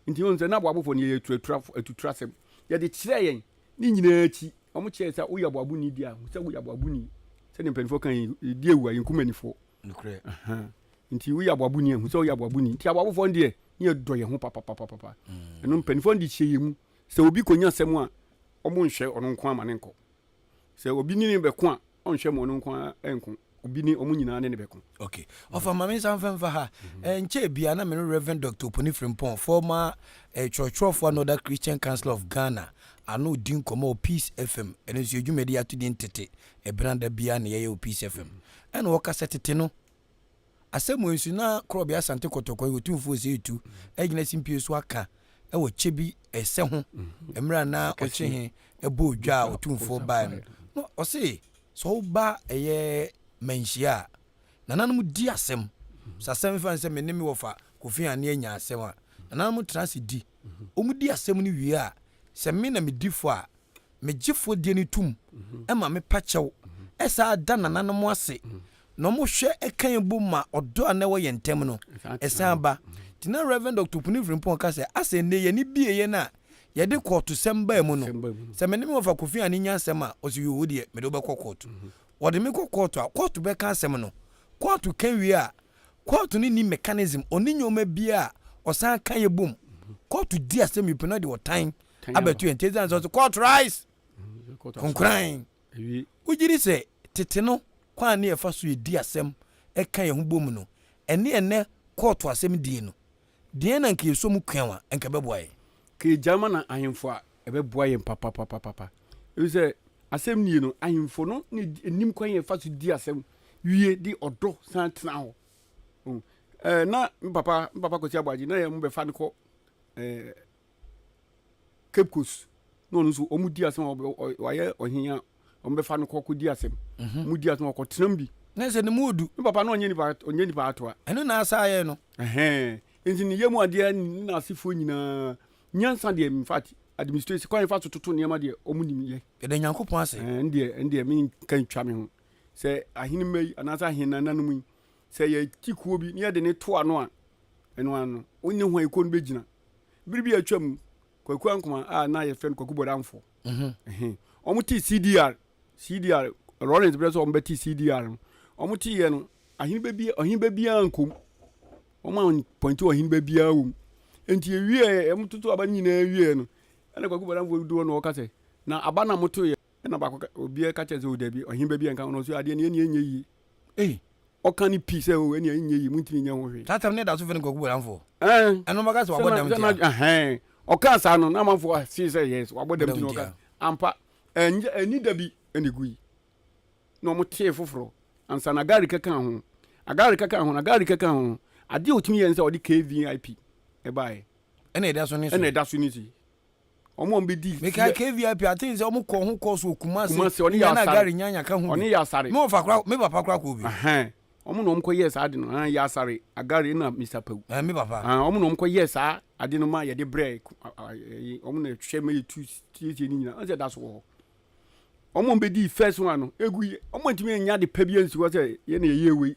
nti wɔn sɛ na aboabofoɔ no yɛ atuatura atutura asɛm yɛde kyerɛ yɛn ne nyinaa akyi wɔn kyerɛ sɛ woyɛ aboabo ni di a sɛ woyɛ aboabo ni sɛ ne mpanimfoɔ kan yɛ di ewu a yɛn kumanimfoɔ nokorɛ. Nti woyɛ aboaboni a hu sɛ woyɛ aboaboni nti aboabofoɔ no deɛ ne yɛdɔ yɛn ho papapapapa ɛno mpanimfoɔ no de hyɛ yɛn mu sɛ obi kɔnya asɛm a ɔmo nhwɛ ɔno nko ama ne nkɔ sɛ obi ne ne bɛko a ɔnhwɛ ma ɔno nko ɛnko obi ne ɔmo nyinaa ne ne bɛko. ok ɔfa ma me nsa mfa mfa ha nkyɛ bia na me ne Reverend Dr. Oponi Frimpong former eh, kyerɛkyerɛfoɔ na ɔda Christian Council of Ghana ano di nkɔmmɔ wɔ Peace FM ɛno nso yɛ dwumadi ato din tete Ebɛnã da biara na yɛyɛ wɔ Peace FM? Nna wɔka sɛ tete no, asɛm wei nso na Korɔbea Asante Kɔtɔkɔ yi Otumfo Osei Tutu agyina simpie so aka wɔ kyɛ bi ɛsɛ ho mmerɛ a na ɔkye he bɔɔ dwa a Otumfoɔ baeɛ no. Na ɔse sɛ woba ɛyɛ manhyia a, nananom di asɛm. Sɛ asɛm fa ne sɛ me ne me wɔfa Kofi Anne anya asɛm a, nananom tra ase di. Wɔdi asɛm no wie a, sɛ me na medi fɔ a, me Gyefoɔ die no tom ma me pa kyɛw saa da nananom ase na wɔn hwɛ ka yɛn bom ma ɔdɔ a na ɛwɔ yɛn ntam no ɛsan ba nti na Rev. Dr. Opuni Frimpong ka sɛ asɛ nnɛ yɛn ani bie yɛn a yɛde kɔɔto sɛm baa mu no sɛ me ne me wɔfa Kofi Anne nya asɛm a ɔsɛ yoo wo deɛ mede wobɛkɔ kɔɔto wɔde me kɔ kɔɔto a kɔɔto bɛka asɛm no kɔɔto ka wie a kɔɔto no ni mechanism ɔne nneɛma biara ɔsan ka yɛ bom kɔɔto di asɛm yi pɛ na ɔde ɔtan abɛto yɛn nti ɛsiane sɛ ɔse court rise konkoran wogye di sɛ tete no kwan ne ɛfa so ɛdi asɛm ɛka yɛn ho bɔ mu no ɛne ɛnɛ kɔɔto asɛm die no deɛn na nka yɛsɔ mu kwan a nka ɛbɛboa yɛn ka ɛgya ma na ahemfo a ɛbɛboa yɛn papapapapa ɛfiri sɛ asɛm nie no ahemfo no ne ɛnim kwan yɛfa so di asɛm wie de ɔdɔ san tena hɔ oh, eh, na mpapa mpapa kɔsi aboagye na yɛ mo bɛfa no kɔ eh, Cape Coast na ɔno nso wɔn di asɛm wayɛ ɔhen a wɔn bɛfa no kɔ kɔ di asɛm mhm. wɔn di asɛm wɔkɔ tenam bi. ne nsɛ ne mu odu. ne papa na ɔnyɛ nipa ɔnyɛ nipa atoa. ɛno na asa ayɛ no. ɛhɛn nti ne yam adeɛ ne n'asefoɔ nyinaa nyansa deɛ in fact administration kwan fa so toto nneɛma deɛ wɔn nim yɛ. yɛda nyankopɔn ase. ɛn deɛ ɛn deɛ mi nka ntwa mi ho sɛ ahenema yi anaasɛ ahenananom yi Sɛ yɛgye kuo bi na yɛde no to ano a, ɛno ara no, wo ne hwan kuo no bɛgyina. Bere bi a atwa mu, Kwaku Ankoma a na yɛfrɛ no Kwaku Bɔdamfoɔ, mhm, wɔn tee CDR, CDR, Lawrence berɛ sɛ wɔn bɛte CDR no, wɔn teeɛ no, aheneba bi, ɔheneba biara nkom. Wɔn a pɔnte ɔheneba biara wɔ mu. Enti ɛwieɛ, wɔn toto aba no nyinaa wieɛ no, ɛna Kwaku Bɔdamfoɔ dodoɔ na ɔka sɛ, na aba na motoeɛ. Ɛna ɔbaako ka, obiara ka kyerɛ sɛ, o dabi, ɔhene ba bi a nka ɔno nso adeɛ no ɛnneɛ ɛnyɛ yie. Ei! Ɔka no pi sɛ, o ɛnneɛ ɛnyɛ yie, montumi nyɛ ho hwee. Saa asɛm no da so frɛ no kwaku bɔdamfoɔ. Ɛɛ. Ɛno bɛka sɛ wabɔ dam tia. Ɛhɛn. Ɔkaa saa no, na amanfoɔ see sɛ, yes, wabɔ dam nti na ɔka. Ampa, ɛnyɛ, ɛnni da bi na ɛgui. Na wɔtee foforɔ ansa na Agari kɛkaa ho. Agari kɛkaa ho no, Agari kɛkaa ho no, adeɛ a ɔtumi yɛɛ ne sɛ ɔde KVIP baeɛ. Ɛna ɛda so ne si. Ɛna ɛda so ne si. Wɔn a wɔbɛdi. Mekae KVIP a, I think sɛ wɔkɔ ho course wɔ Kumasi. Kumasi, ɔne Yasare. Nyana Gary Nyanya ka ho bi. Ɔne Yasare. Me wɔfa kora, me papa kora kɔɔ bi. Ɛhɛn. Wɔn na wɔkɔ yɛɛ saa ade no. Ɛhɛn, Yasare, Agare na Mr. Pawu. Ɛhɛn, me papa. Ɛhɛn, wɔn na wɔkɔ yɛɛ saa ade no ma yɛde brɛ ɛyi, wɔn na ɛhwɛ ma yɛtu siesie ne nyinaa. Ɔsɛ da so wɔ hɔ. Wɔn a wɔbɛdi first one no, egu yɛ, wɔn ntumi nya de pa bi ansi hɔ sɛ yɛn na yɛyɛ wei.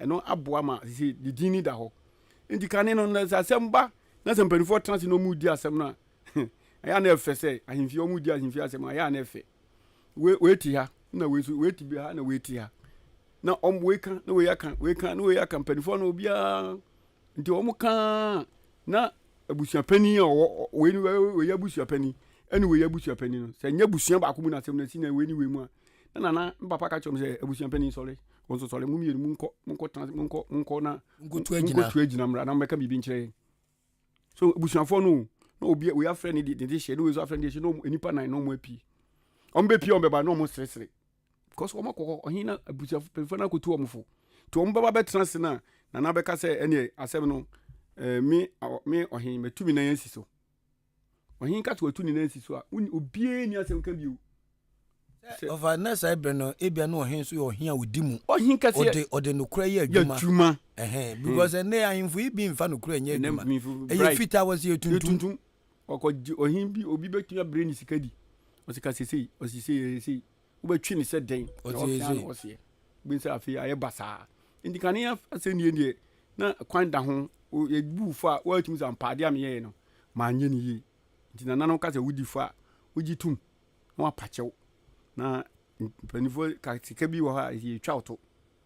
Ɛno aboa ma sese ne din no da hɔ. Enti kane no, na sɛ asɛm ba na sɛ mpanimfoɔ tena ase na wɔredi asɛm no a, ɛyɛ a na ɛfɛ sɛ ahemfie, wɔredi ahemfie asɛm a, ɛyɛ a na ɛfɛ. Wei, wei te ha, na wei nso, wei te bi ha, na wei te ha. Na wɔn, wei ka, na wei aka, wei ka, na wei aka, mpanimfoɔ no obiara. Nti wɔn ka na abusuapanin a ɔwɔ, wei ne wei yɛ abusuapanin, ɛne wei yɛ abusuapanin no, sɛ nyɛ abusua baako mu na asɛm no asi na wei ne wei mu a, na nana, me papa ka kyerɛ me sɛ, abusuapanin sɔre. wɔn nso sɔre mu mmienu mu nkɔ mu nkɔ tena mu nkɔ mu nkɔ na mu nkɔtu agyina mu nkɔtu agyina mmra na mbɛka biribi nkyerɛ so abusuafoɔ no na obi oyi afrɛ ne de ne de hyɛ ne oyi nso afrɛ ne de hyɛ na wɔn nipa nan na wɔn apue wɔn bɛ pue wɔn bɛba na wɔn seresere because wɔn akɔ hɔ ɔhen na abusuafo pɛnfo na akɔtu wɔn fo nti wɔn bɛba bɛtena ase na nana bɛka sɛ ɛneɛ asɛm no ɛɛ eh, me me ɔhen matumi nan asi so Ɔhen ka sɛ watu ne nan asi so a, wonni obiara nni asɛm ka bio. Sɛ ɔfa na saa bere no ebia na ɔhen nso yɛ ɔhen a odi mu. Ɔhen kɛse ɔde ɔde nokorɛ yɛ adwuma. Yɛ adwuma. Ɛhɛn hmm. because ɛnɛ ahemfo yi bi nfa nokorɛ nyɛ adwuma. Ɛyɛ fitaa wɔ se yɛ tuntum. Yɛ tuntum. Ɔkɔ ɔhen bi obi bɛtumi abere ne sika di. Ɔsɛ ka sesei ɔsesei ɛsesei. wobɛtwe ne sɛ dɛn na ɔkea na ɔseɛ wobɛhu sɛ afei ayɛ basaa nti kane asɛnnie deɛ na kwan da ho yɛbu fo a woatumi sɛ ampaade a meyɛɛ no manyɛ no yie nti nana no ka sɛ wodi fo a wogye tom na wapakyɛw na mpanimfoɔ ka sika bi wɔ hɔ a yɛtwa wo to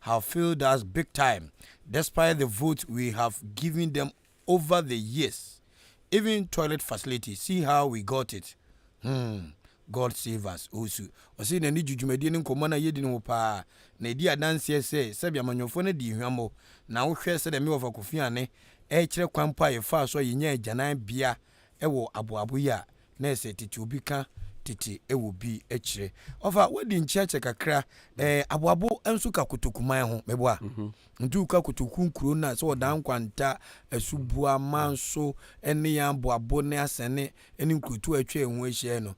have failed us big time despite the votes we have given them over the years even toilet facility see how we got it hmm God save us Owusu ɔse n'ani gye dwumadie ne nkɔmmɔ no a yɛdi no ho paa na ɛdi adanseɛ sɛ sɛbi amanyɔfoɔ no adi hwammɔ na wohwɛ sɛdeɛ Mewafa Kofi Anne ɛrekyerɛ kwan mpo a yɛfaa so a yɛnyaa agyanan bea wɔ aboabo yi a na ɛsɛ tete obi ka tete wɔ bi kyerɛ. Ɔfa wadi nkyerɛkyerɛ kakra ɛɛ aboabo nso ka kotoku man ho mɛboa. Mhm. Nti woka kotoku nkuro no a sɛ ɔdaa nkwanta, asubua, manso ne yɛn aboabo ne asɛne ne nkurotu a atwa yɛn ho ahyia no.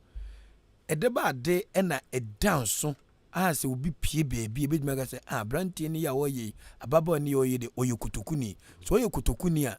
Ɛde ba ade na ɛda nso a sɛ obi pie baabi ebetumi aka sɛ ah aberanteɛ no yɛ a ɔyɛ yi, ababaawa no yɛ a ɔyɛ de ɔyɛ kotokuni. Sɛ ɔyɛ kotokuni a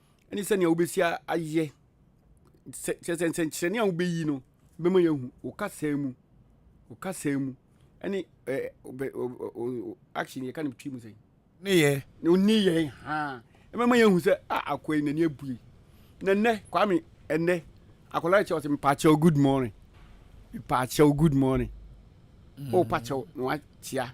ne sɛnea wobɛsi ayɛ kyerɛ sɛ nsɛnkyerɛnne a wobɛyi no bɛma yɛahu wo kasaa mu wo kasaa mu ɛne action yɛka no twi mu sɛ ne yɛ ne yɛ ha ɛbɛma yɛahu sɛ a akoa yi n'ani abue na nnɛ kwame ɛnnɛ akwadaa no kyɛ ɔsɛ mpaakyɛw good morning mpaakyɛw good morning mm. o pakyɛw na wakyea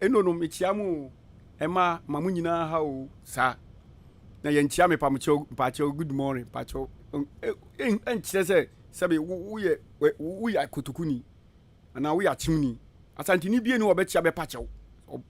Eno no mekyia mo oo ɛma ma mo nyinaa ha oo saa na yɛn kyia me pamokyɛw mpakyɛw good morning mpakyɛw ɛnkyerɛ sɛ sɛbi woyɛ woyɛ akotokuni anaa woyɛ akyimni asantini bie ne wɔbɛkyia bɛpakyɛw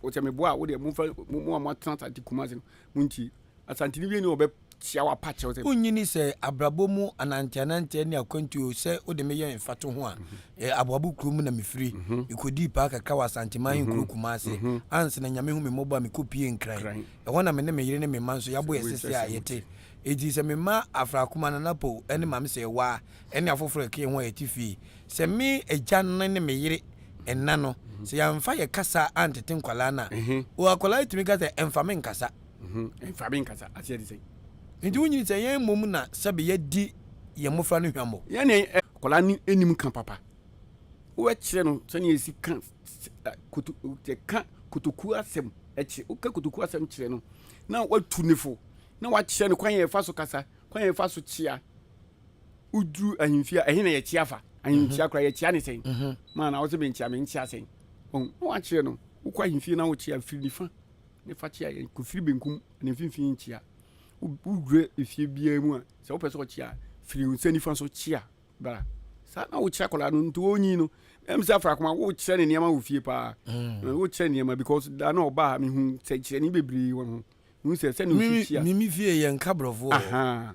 ɔkyɛ me boa wo deɛ mo fɛ mo a mo atena asante kumase no mo ntie Asanteni wieni a ɔbɛkyea wo apa kyerɛ wo sɛ. Wonnyini sɛ abrabɔ mu ananteananteɛ ne akwantuo sɛ wode me yɛ mfatoho a, eh, Aboabo kuro mu na mefiri. Mekɔdii paa kakra wɔ Asanteman ahenkuro Kumase ansa na Nyame hu me mmɔbɔ a mekɔpuee Nkran. Ɛhɔ na me ne me yere ne me mma nso yɛabɔ yɛn sese a yɛte. Enti sɛ me mma Afrakuma, Nana Pow ne Maame Sɛɛwaa ne afoforɔ a ɛka yɛn ho a yɛte fie, sɛ me agya no ne me yere nna no, sɛ yɛamfa yɛn kasa antete nkwadaa no a, oh, akwadaa tumi ka sɛ, Ɛmfa me nkasa. Ɛmfa me nkasa, aseɛ te sɛn? Nti wonyini sɛ yɛn mmom na sɛbe yɛadi yɛn mmofra no hwammɔ. Yɛn ne akwadaa no nnim ka papa. Wobɛkyerɛ no sɛnea yɛsi ka ka kotokuo asɛm kyerɛ. Woka kotokuo asɛm kyerɛ no na watu ne fo na wakyerɛ no kwan a yɛfa so kasa, kwan a yɛfa so kyea. Woduru ahemfie a, ɛhe na yɛkyea fa? Ahemkyea koraa yɛkyea ne sɛn? Maa na wo sɛ menkyea, menkyea sɛn? Na wakyerɛ no, wokɔ ahemfie na wokyea firi nifa ne fakyea yɛ kofiri benkum ne mfimfini nkyea. Wodwira efie biara mu a, sɛ wopɛ sɛ ɔkyea a, firi nsa nifa so kyea bra. Saa na wokyerɛ akwadaa no nti ɔnyi no. Ɛm sɛ afra koma wokyerɛ ne nneɛma wɔ fie paa. Mm. Eh, wokyerɛ nneɛma because da na ɔba a mehu sɛ kyerɛ ne bebree wɔ ho. Mehu sɛ sɛ ne osi kyea. Mimi fie yɛ nka borɔfoɔ. Aha.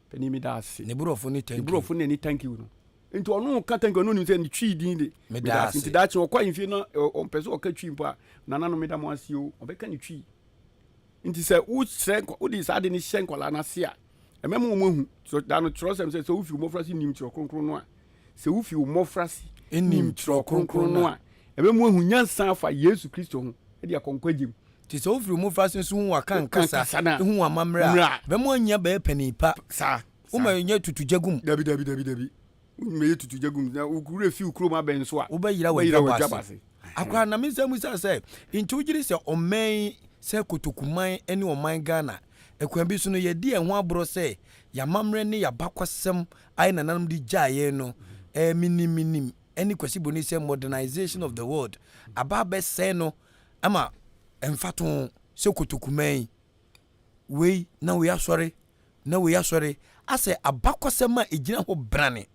Panin meda ase. Ne borɔfo ne thank you. Ne borɔfo na ɛne thank you no. Nti ɔno ka thank you ɔno nim sɛ ne twi din de. Meda ase. Nti daakye ɔkɔ ahemfie no ɔmpɛ sɛ ɔka twi mpo a nana no meda mo ase o ɔbɛka ne twi. Nti sɛ wohyɛ wode saa de no hyɛ nkwadaa no ase a ɛmɛma wɔn ahu da no kyerɛwsɛm sɛ sɛ wofi mmɔfra se nim kyerɛ kronkron no a Sɛ wufi wo mmofrase nim Kyerɛw Kronkron no a, ɛbɛma woahu nyansa afa Yesu Kristo ho de akɔ nkwagye mu. Enti sɛ wufi wo mmofrase nso hu wɔakan kasa no a, hu wɔn amammerɛ a, ɛbɛma woanya bɛyɛ panin pa. Wommɛyɛ tutu gya gum. Dabi, dabi, dabi, dabi. Wommɛyɛ tutu gya gum. Na wo werɛ fi wo kurom abɛn nso a, wobɛyera w'adwabɔ ase. Akwaa na me nsa mmusa sɛ, Enti wogye di sɛ ɔman yi, sɛ kotokuman ne ɔman Ghana, Ɛkwan bi so no, yɛadi yɛn ho aborɔ sɛ yɛn amammerɛ ne yɛn abakɔsɛm a yɛn nananom de gyaa yɛn no, ɛɛ, menim, menim, ɛne Kwasi Boney sɛ modernisation of the world aba abɛsɛe no ma mfatoho sɛ kotoku man, wei na wei asɔre na wei asɔre, asɛ abakɔsɛm a ɛgyina hɔ brane,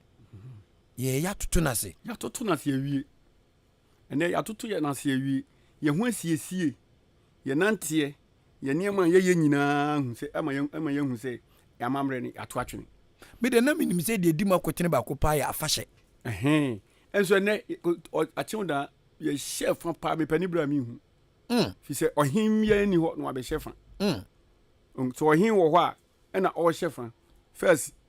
yɛɛ, yɛatoto no ase. Yɛatoto no ase awie. Ɛnnɛ, yɛatoto yɛn ase awie. Yɛn ho asiesie, yɛn nanteɛ, yɛn nneɛma a yɛyɛ nyinaa hu sɛ ama yɛn ama yɛahu sɛ yɛn amammerɛ no yɛato atwene. Me deɛ na menim sɛ deɛ ɛdi mu akotene baako paa yɛ afahyɛ. Ɛhɛn. Ɛnso ɛnnɛ, akyew da yɛhyɛ fa paa mepɛ ne berɛ a menhu. Mm. Fi sɛ ɔhen biara nni hɔ na wabɛhyɛ fa. Mm. Um, sɛ ɔhen wɔ hɔ a, ɛna ɔrehyɛ fa. First,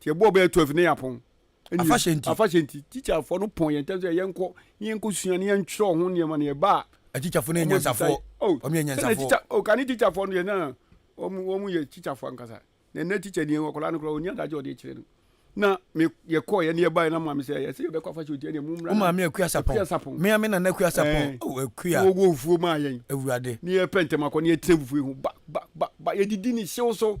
nti ɛbɔ ɔbɛyɛ twelve ne yapɔn afahyɛ nti afahyɛ nti tikyafoɔ no pɔn yɛn ntɛm sɛ yɛn kɔ ne yɛn kɔ sua ne yɛn twerɛ ɔho nneɛma ne ɛba a atikyafoɔ no yɛ nyansafoɔ oh, wɔn yɛ nyansafoɔ oh, kane tikyafoɔ no yɛ na wɔn wɔn yɛ tikyafoɔ ankasa na ɛnɛ tikya ni wɔkɔla no koraa onya adagye ɔde kyerɛ no na me yɛkɔ yɛ ne yɛba yɛ na maame sɛ yɛsɛ yɛbɛkɔ afahyɛ nti ɛne mu mmra maame akua sapɔn akua sapɔn mea me nana akua sapɔn eh. oh, akua wɔwɔ nfuo maa yɛn awurade ne yɛpɛ ntɛm akɔ ne yɛtena fufuo ho ba ba ba ba yɛdidi ne hyew so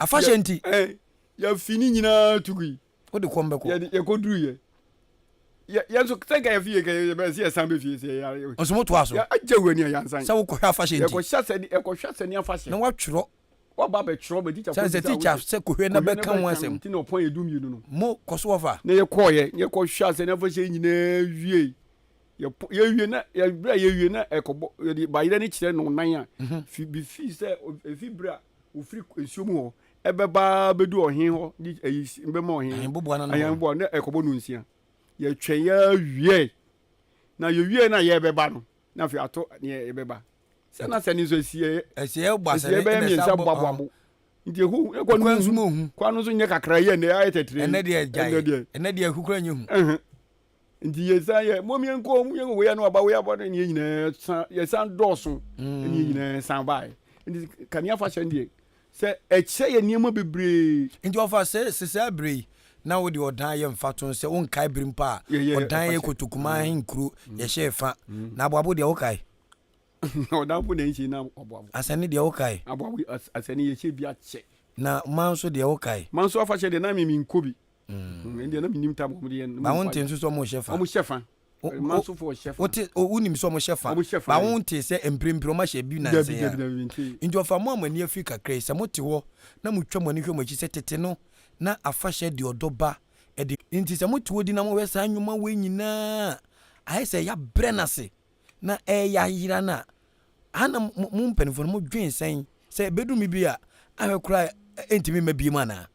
afahyɛ nti yɛfi ne nyinaa tugui wode kɔm bɛkɔ yɛkɔduruyɛ yɛnso sɛ nka yɛfie kɛ yɛbɛyɛ sɛ yɛsan bɛfie sɛ yɛyare nso motoa so agya wura ni a yɛansan sɛ wokɔhwɛ afahyɛ nti yɛkɔhyɛ sɛ yɛkɔhwɛ sɛ ne afahyɛ na woatwerɛ waba bɛtwerɛ bɛ tikya sɛ tikya sɛ kɔhwɛ na bɛka ho asɛm nti na ɔpɔn yɛ dumienu no mo kɔ so wɔfa na yɛkɔɔyɛ yɛkɔhwɛ asɛ ne afahyɛ nyinaa wiei yɛpo yɛwie na yɛbrɛ a yɛwie na ɛkɔbɔ yɛde bayerɛ no kyerɛ no nan a mhm. fi bi fi sɛ efi berɛ a ofiri nsuo mu hɔ ɛbɛbaa bɛdu ɔhen hɔ de ayi bɛma ɔhen ayanboa na ɛkɔbɔ no nsia yɛtwɛn yɛawie na yɛwie na yɛbɛba no na afei ato neɛ yɛbɛba sɛ na sɛ ne nso asiɛ asiɛ bɛyɛ mmiɛnsa boaboabo nti ehu ekɔ no mu kwan no nso nyɛ kakra yɛ ɛnɛ ayɛ tɛtɛrɛ ɛnɛ deɛ ɛnɛ deɛ ɛnɛ deɛ ehu kura nyɛ hu Nti yɛsan yɛ mmom yɛnkɔ mu yɛn wei ano aba wei aba ne yɛn nyinaa san yɛsan dɔɔso ne yɛn nyinaa san baeɛ nti kanea afahyɛ deɛ sɛ ɛkyɛ yɛ nneɛma bebree. Nti ɔfa sɛ sesɛ abere yi na wode ɔdan yɛ mfato no sɛ wonkae bere mpo a ɔdan yɛ kotokuma ahenkuro yɛhyɛɛ fa na aboabo deɛ wokae? Ɔdanfo na ɛnhyɛ na aboabo. Asɛne deɛ wokae? Aboabo asɛne yɛhyɛ bi akyɛ. Na ma nso deɛ wokae? Ma nso afahyɛ deɛ na me menkɔ bi. ba wo nte nso sɛ ɔmo hyɛ fa ɔmo hyɛ fa wonim sɛ ɔmo hyɛ fa ba wo nte sɛ mprempren ɔmo ahyɛ bi nansa yi nti ɔfa mo a mo ani afiri kakra yi sɛ mo te hɔ na mo twa mo ani hwɛ mo akyi sɛ tete no na afahyɛ de ɔdɔ ba ɛde nti sɛ mo te hɔ di na mo hwɛ saa nnwuma wei nyinaa ayɛ sɛ yabrɛ no ase na ɛyɛ ayera no a ana mo mpanimfoɔ no mo dwen sɛn sɛ ɛbɛduru mi bi a ahwɛ koraa ɛntumi mma biem anaa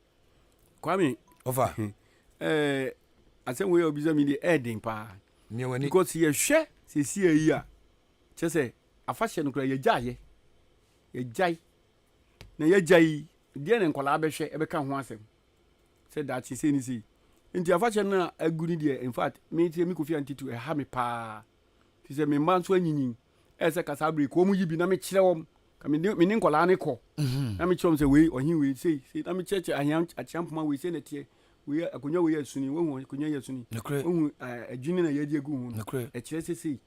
kwame ɔfa ɛɛ asɛm wei a ɔbisa mi deɛ ɛɛden paa because yɛhwɛ sisi ayi a kyɛ sɛ afahyɛ no kora yɛgyaeɛ yɛgyae na yɛgya yi deɛ na nkwadaa bɛhwɛ ɛbɛka ho asɛm sɛ daakye sei ne sei nti afahyɛ no a agu no deɛ in fact me sɛ me kofi antitu ɛha me paa fi sɛ me mma nso anyinyin ɛyɛ sɛ kasa abere kɔn mu yi bi na mekyerɛ wɔn Ka me ne nkwadaa no kɔ. Mhm. Na mekyerɛ wɔn sɛ wei ɔhen wei sei sei na mekyerɛkyerɛ ahea akyea mpoma wei sei na ɛteɛ wei akonnwa wei yɛ suni wɔhu akonnwa yɛ suni wɔhu adwini na yɛde agu ho no ɛkyerɛ sɛ sei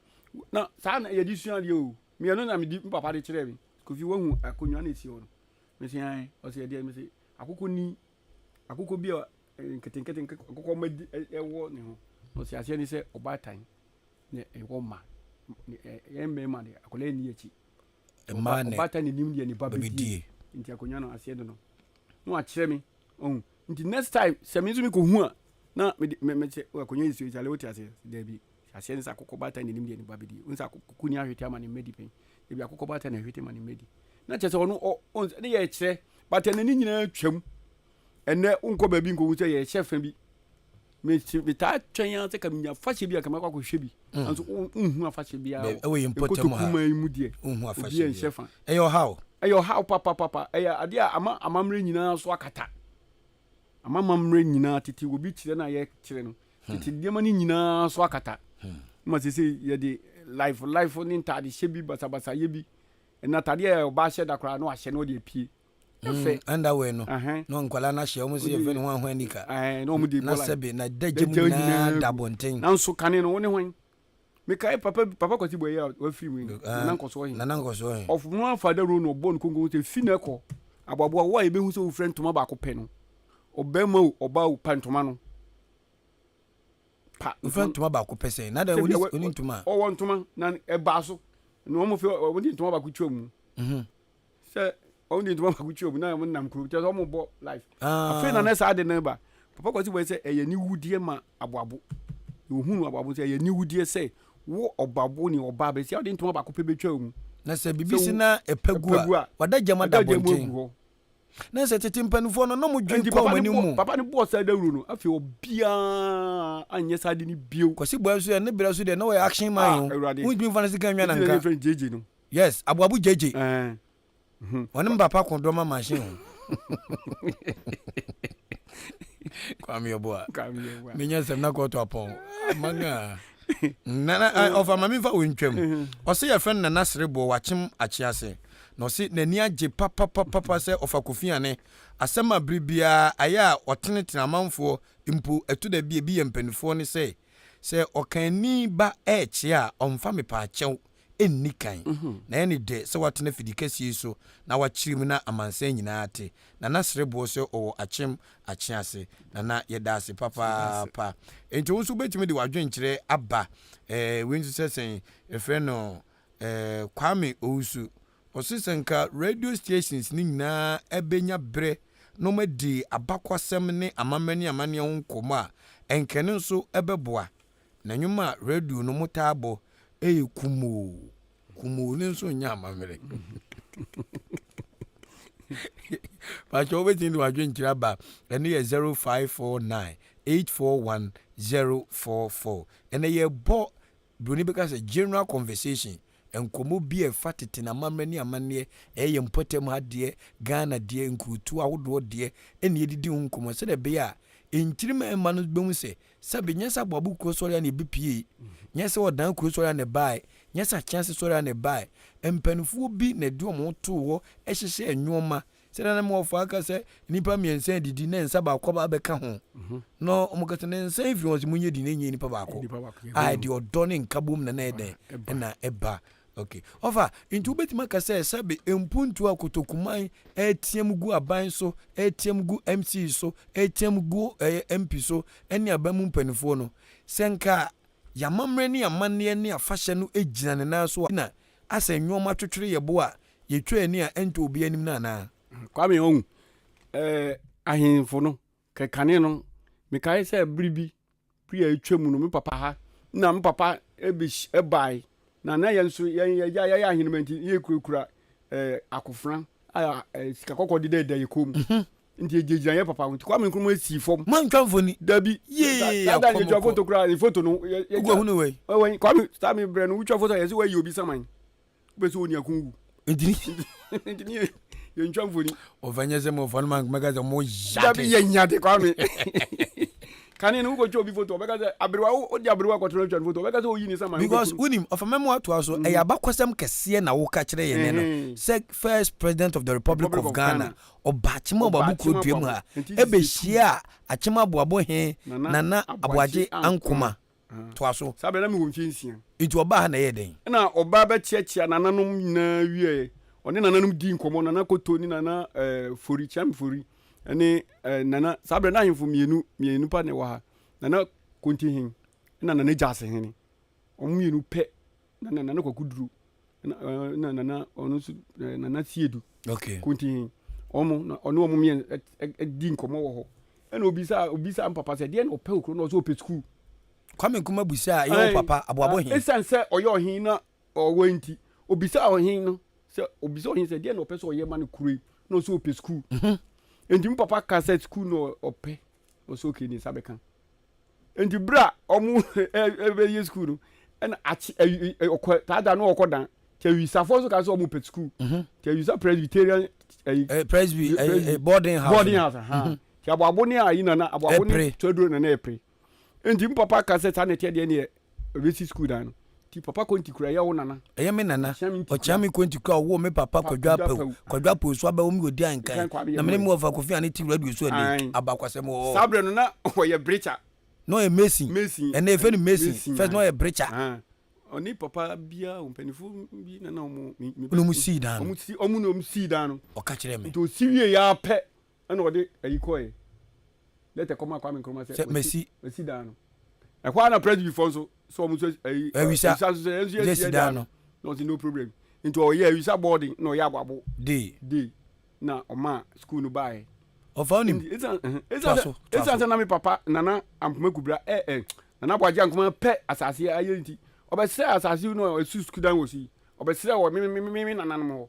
na saa na yɛde sua adeɛ o mmienu na medi papa de kyerɛ me kofi wɔhu akonnwa na ɛsi hɔ no mese an ɔsɛ ɛdeɛ mese akokɔ ni akokɔ bi a nketenkete akokɔ ma ɛwɔ ne ho ɔsɛ aseɛ ne sɛ ɔbaatan na ɛwɔ ma yɛn mmarima deɛ akwadaa ni akyi mmaa ne ɔbaatan ne nim deɛ ne ba bɛdie nti akonnwa no aseɛ de no na wakyerɛ me ɔhu nti next time sɛ me nso mekɔ hu a na mɛkyɛ akonnwa yi so ɛkyale wote aseɛ daabi aseɛ ne sɛ akokɔ baatan ne nim deɛ ne ba bɛdie wo sɛ akokɔ ni ahwete ama ne mmadi pɛn ebi akokɔ baatan na ahwete ma ne mmadi na kyerɛ sɛ ɔno ne yɛ kyerɛ baatan n'ani nyinaa twam Ɛnnɛ wonkɔ baabi nkohu sɛ yɛhyɛ fã bi. Metaa twɛn ara sɛ ka menya afahyɛ bi a ka mɛkɔ akɔhwɛ bi. Nanso wonhu afahyɛ biara wɔ ɛwɔ yɛn mpɔtam ha. Nkotokumaa yi mu deɛ, obi anhyɛ fã. Ɛyɛ ɔhaw. Ɛyɛ ɔhaw papapapa. Ɛyɛ adeɛ a ama amammerɛ nyinaa so akata. Ama amammerɛ nyinaa, tete wɔ bi kyerɛ no a yɛkyerɛ no, tete nneɛma no nyinaa so akata. Ma seesei yɛde laefo laefo ne ntadehyɛ bi basabasayɛ bi, ɛnna atadeɛ a ɔbaa hyɛ da koraa no ahyɛ na ɔde apue. Mm, underwear no na nkwadaa no ahyɛ wɔn sɛ yɛfrɛ no ho ahoa nika na sɛbe na dagya mu nyinaa da abɔnten nanso kane no wo ne hwan mekae papa papa kwati bɔ yɛ wafiri mu ah, nana nkɔsoɔ he nana nkɔsoɔ he ɔfono afa da ro no ɔbɔ no konko sɛ fi no ɛkɔ aboaboa wo a yɛbɛhu sɛ wofrɛ ntoma baako pɛ no ɔbɛrima o ɔbaa o pa ntoma no pa wofrɛ ntoma baako pɛ sɛ na dɛ wone ntoma ɔwɔ ntoma na ɛbaa so na wɔn fɛ wɔn de ntoma baako twɛ mu mhm. sɛ wɔn de ntoma baako twi wɔn na wɔn nam kurom kyerɛ sɛ wɔn bɔ life ah. afei na ne saa de ne ba papa kwasi bɔ sɛ ɛyɛ ne wudeɛ ma aboabo ohun aboabo sɛ ɛyɛ ne wudeɛ sɛ wo ɔbabo ne ɔbaa bɛ sɛ ɔde ntoma baako pɛ bɛ twa wɔn. na sɛ bibi si na ɛpɛ gu a wada gyama da bɔnten na sɛ tete mpanimfoɔ no na mo dwen kɔn wɔn anim mu. papa ne bɔɔ saa dawuro no afei obiara anyɛ saa de ne bio. kwasi bɔ nso yɛ ne brɛ so deɛ na wɔyɛ action man ah, o. awurade wotumi nfa ne sika nwa na nka. Yes aboabo gyegye. Ɛɛ. Ɔne me papa ko dɔma machine ho. Kwame Ɔboa. Menya sɛm na kɔɔto apɔn. Amanga. Nana ɔfa ma memfa wo ntwam. Ɔse yɛfrɛ no Nana Sereboɔ wakyem akye ase. Na ɔse n'ani agye papapapapa sɛ ɔfa Kofi Ane asɛm a bere biara ayɛ a ɔtenetene amanfoɔ mpo ɛto da bi ebi yɛ mpanifoɔ ne sɛ sɛ ɔkaani ba ɛɛkye a ɔmfa mepaakyɛw nni kan. Na ɛyɛ no dɛ sɛ watena fidi kɛseɛ yi so na wakyere mu na amansan nyinaa te. Na na srɛ boɔ sɛ ɔwɔ akyem akye ase. Na na yɛda ase papaapa. Enti wo nso wobɛtumi de w'adwenkyerɛ aba. Eh, wei nso sɛ sɛn? Yɛfrɛ no eh, Kwame Owusu. Ɔse sɛ nka radio stations no nyinaa bɛnya berɛ na wɔadi abakwasɛm ne amammerɛ ne amanneɛ ho nkɔmmɔ a, ɛnka ɛno nso bɛboa. Na nnwom a radio no mo taa bɔ yɛ kumoo kumoo no nso nyɛ amammerɛ pakyɛ wobɛtumi de wadwenkyerɛ aba ɛno yɛ 0549 841044 ɛnɛ yɛbɔ buroni bɛka sɛ general conversation nkɔmmɔ bi a ɛfa tete na amammerɛ ne amanneɛ ɛyɛ yɛn mpɔtam ha deɛ ghana deɛ nkurutu ahodoɔ deɛ ɛne ɛdidi ho nkɔmmɔ sɛdeɛ ɛbɛyɛ a nkyirima ɛma no bɛhu sɛ Sɛ bi, nyɛ sɛ aboabo kuro sɔre a na ebi piee, nyɛ sɛ ɔdan kuro sɔre a na ɛbae, nyɛ sɛ akyea ase sɔre a na ɛbae. Mpanimfoɔ bi na ɛde wɔn ho too hɔ hyehyɛɛ nnoɔma. Sɛdeɛ na Moafo aka sɛ nnipa mmiɛnsa redidi na nsa baako aba abɛka ho no, wɔka sɛ, na nsa yi firi wɔn sɛ monyɛ di na ɛnyɛ nnipa baako. A, ɛde ɔdɔ ne nkabom na na ɛyɛ dɛn? Na ɛba. Okay. Ɔfa, nti wobɛtumi aka sɛ sɛbe mpuntuo a kotokuman ɛreteam gu aban so, ɛreteam gu MC so, ɛreteam gu ɛyɛ MP so ɛne aban mu mpaninfoɔ no, sɛ nka y'amammerɛ ne y'amanneɛ ne afahyɛ no gyina ne nan so a, na asɛ nnoɔma twetwere yɛ bo a yɛtwa ani a ɛntɔ obiara anim no anaa? Kwame, ɔhu, eh, ahenfo no, Kɛ kane no, mekae sɛ bere bi, bere a atwam no, me papa ha na me papa bes bae, na na yɛn nso yɛn agya, yɛyɛ ahenemma nti, na yɛkurakura eh, akofena a eh, sika kɔkɔɔ dedaada yɛ kɔn mu. Nti egyinagyina yɛn papa ho. Nti Kwame Nkrumah sii fam. Moantwa mfoni? Dabi. Yee, Sa- Saa da no akɔm yɛtwa kɔ. foto koraa, ne foto no. yɛ- yɛtwa- Wokɔhunu wei? Wɔ wɛn, Kwame, saa me brɛ no, wotwa foto a yɛse woayi obi saman. bɛ sɛ ɔni akon wu ntini ntini yɛ yɛ ntwa mfoni ɔfɛ nyɛ sɛ mɔfɔ no ma mɛka sɛ mo yate dabi yɛ nyate kwame kane no wokɔtwa obi foto ɔbɛka sɛ aberewa wode aberewa kɔtena atwa no foto ɔbɛka sɛ ɔyi ne sama because wonim ɔfa mɛmo atoa so mm. ɛyɛ abakɔsɛm kɛseɛ na woka kyerɛ yɛn nɛ no sɛ first president of the republic of ghana ɔba akyema ɔbabo kuro dua mu ha ɛbɛhyia a akyema aboabo he nana aboagye ankoma Toa so. Saa berɛ no, na mewɔ mfeɛ nsia. Enti ɔbaa ha na ɛyɛɛ dɛn? Ɛnna ɔbaa bɛkyiakyia nananom nyinaa wieeɛ. Ɔne nananom dii nkɔmmɔ, Nana Koto ne Nana Fori, Kyam Fori, ne Nana, saa berɛ no na ahemfo mmienu, mmienu pɛ na ɛwɔ ha, Nana Kontihen na Nana Gyasehene. Wɔn mmienu pɛ na na nana kwaku duru na eh, na nana ɔno nso eh, nana siedu okay kuntin ɔmo na ɔne ɔmo mmiɛn ɛ- ɛ- ɛ- di nkɔmɔ wɔ hɔ ɛna obi sa obi sa mpapa sɛ deɛ na ɔpɛ okuro na ɔsɛ ɔpɛ sukuu kwame nkrumah busa a ɛyɛ wo papa aboabo he ɛsiane sɛ ɔyɛ ɔhen na ɔwɔ nti obisa ɔhen no sɛ obisa ɔhen sɛ deɛ na ɔpɛ sɛ ɔyɛ ma no kuro yi na ɔsɛ ɔpɛ sukuu Mhm. nti me papa ka sɛ sukuu na ɔpɛ ɔsɛ ɔkɛ ne nsa bɛka Nti berɛ a wɔbɛyɛ sukuu no, ɛna akye awi ɔkɔ saa da no ɔkɔ dan. Nti awisafoɔ nso ka sɛ wɔpɛ sukuu. Mhm. Nti awisa Presbyterian ayi. Eh, Presby eh, eh, boarding house. Boarding house. Aha. Mhm. Nti aboabo ne ayi nana aboabo ne tɔduro nana ɛpere. Nti mpapa ka sɛ saa na ɛteɛ deɛ neɛ Ɔbɛsi sukuu dan no. Nti papa konti kura yɛ wo nana. Ɛyɛ me nana. Ɔkyea me konti kura ɔwoo me papa Kwadwo Apawu. Kwadwo Apawu so abɛwo me ɔdi ankan. Na me ne me wɔfa Kofi Ane Tiwura Duosu Aning. Abakwasɛm wɔ hɔ. Saa berɛ no na ɔyɛ brekya. Na ɔyɛ mason. Mason. Ɛnɛ yɛfrɛ no mason. Mason. First na ɔyɛ brekya. Ahaa. Ɔne papa biara mpanyinfoɔ bi na na wɔn. Wɔn sii dan no. Wɔn sii dan no. Ɔka kyerɛɛ me. Nti ɔsi wieeɛ ara pɛ. Ɛna ɔde ayi kɔe, lɛtɛ kɔmaa Kwame Nkrumah sɛ wɔasi wɔasi dan no. Ɛhɔ ara na Presbyfoɔ nso sɛ wɔn nso ayi awisa nso sɛ yɛn nso yɛasi dan no. Na ɔsi no problem. Nti ɔyɛ awisa boarding na ɔyɛ aboabo day day na ɔmaa school no baeɛ. Ɔfa onim. Nti esan ɛhɛn esan sɛ esan sɛ na me papa Nana Ampoma Kubra ɛ ɛ Nana Boagye Ankoma pɛ asase ayɛ nti ɔbɛsrɛ asase no a ɔsi school dan wɔ so yi ɔbɛsrɛ wɔ me me me me nananom hɔ.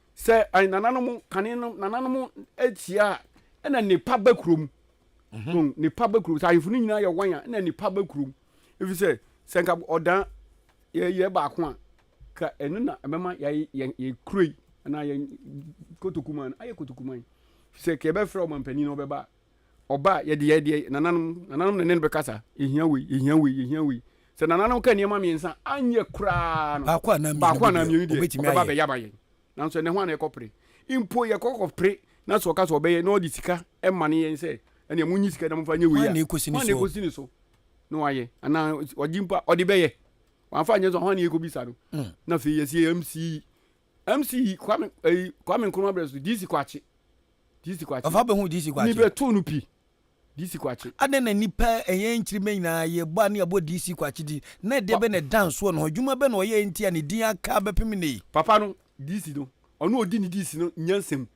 Sɛ ayi nananom kane no nananom ahyia a ɛna nipa ba kurom. Mm-hmm. Nipa ba kurom. Sɛ ahemfo no nyinaa yɛ wɔn a ɛna nipa ba kurom. Efi sɛ sɛ nka ɔdan yɛyɛ baako a ka ɛno na ɛbɛma yɛayɛ yɛn yɛn kuro yi anaa yɛn kotokuman ayɛ kotokuman. Sɛ kɛ ɛbɛfrɛ ɔmampanin na ɔbɛba Ɔba a, yɛde yɛ deɛ nananom, nananom na ɛne no bɛkasa. Yɛhia wei, yɛhia wei, yɛhia wei. Sɛ nananom ka nneɛma mmiɛnsa anyɛ koraa no, baako anaa mmienu deɛ ɔbɛba abɛyɛ ama yɛn. Nanso ɛnɛ ho ana yɛkɔpere? Mpo yɛkɔkɔpere na sɛ ɔka sɛ ɔbɛyɛ na ɔde sika ma ne yɛn sɛ ɛnea monyi sika na momfa nyɛ wei a, hwan na ɛkɔsi ne so na wayɛ anaa ɔgye mpo a ɔde bɛyɛ? Wamfa anyɛ nso hwan na yɛkɔbisa no? Hmm. Na afei yɛsi MC MC Kwame eh, Kwame Nkrumah brɛ so DC Kwakye DC Kwakye ɔfa bɛhu DC Kwakye ni bɛtoo no pi DC Kwakye. Adɛn na nnipa ɛyɛn nkyirima nyinaa yɛbɔ a ne yɛabɔ DC Kwakye din? Na ɛdeɛ bɛn na ɛda nsoɔ ne hɔ? Adwuma bɛn na ɔyɛɛ nti a ne din aka bɛpem nnɛ yi? Papa no, DC no, ɔno a ɔdi ne DC no nyansa mu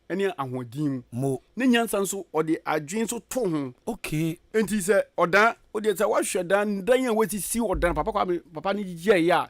ne ahoɔden mu. Mo. Ne nyansa nso ɔde adwene nso to ho. Okay. Enti sɛ ɔdan, wodeɛ sɛ woahwɛ dan, dan a wɔasisi ɔdan, Papa Kwame, papa no yɛɛyɛ a,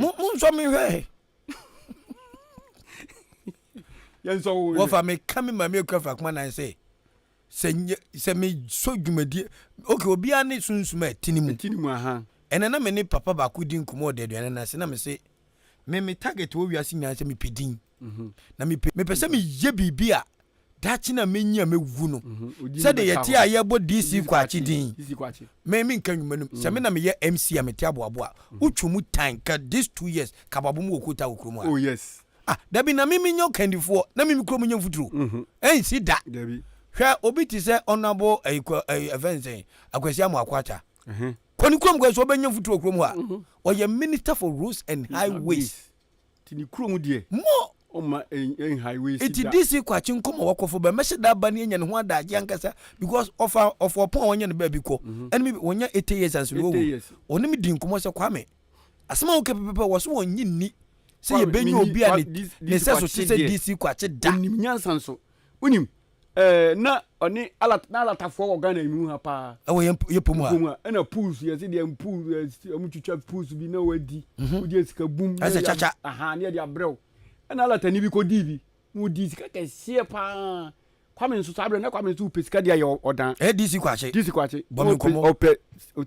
mo mo nsɔ mi hwɛ wɔfa mi ka mi maame ekura fa kuma nan sɛ sɛ nye sɛ mi so dwumadie ok obiara ne sunsum a ɛti ne mu ɛnɛ na mi ne papa baako di nkɔmɔ ɔda aduane na se na mi se mi mi target wɔ wiase nyinaa sɛ mi pɛ din mhm. na mi pɛ mi pɛ sɛ mi yɛ biribi a daakye na menyi a mɛwu no sɛdeɛ yɛte a yɛbɔ DC kwakye din me menka nnwuma no sɛ me na meyɛ MC a mete aboabo a wotwa mu tan ka this two years kababo mu wɔ kota wɔ kurom a oh yes ah dabi na mimi nyɛ kandifoɔ na mimi kurom nyɛ mfuturo ɛnsi da dabi hwɛ obi te sɛ ɔnabo ɛfɛ nsɛn akwasi amu akwata kɔni kurom kɔ so ɔbɛnya mfuturo kurom hɔ a ɔyɛ minister for roads and highways Nti ne kurom deɛ. Mo! Ɔmma ɛnhae wei si da. Nti DC Kwakye nkɔ ma wakɔfo bɛ mmɛhyɛ da aba ne anya ne ho adaagye ankasa because ɔfa ɔfa ɔpon a wɔnyɛ no baabi kɔ. Ɛne me wɔnya eighty years anso na wawu. Ɔne me di nkɔmmɔ sɛ Kwame, asɛm a woka pɛpɛpɛ wɔ so wɔnnye nni sɛ yɛbɛnya obi a ne ne nsɛso te sɛ DC Kwakye da. Ɔnim nyansa nso. Wonim, eh, na ɔne Alat, na Alatafoɔ wɔ Ghana yi mu ha paa. Ɛwɔ yɛn yɛ po mu ha. Po mu ha. Ɛna pools, yɛse deɛ pool, ɔmo twitwa pools bi na wadi. Mhm. Wogye sika bum. na Ɛsɛ yɛde kyakya. ab- Aha, ne yɛde abrɛ wo. Ɛna Alatani bi kɔdii bi, na ɔdii sika kɛseɛ paa. Kwame nso saa berɛ, na Kwame nso ɔpɛ sika de ayɛ ɔ- ɔdan. Ɛyɛ DC Kwakye. DC Kwakye. Bɔ me nkɔmmɔ. Ɔpɛ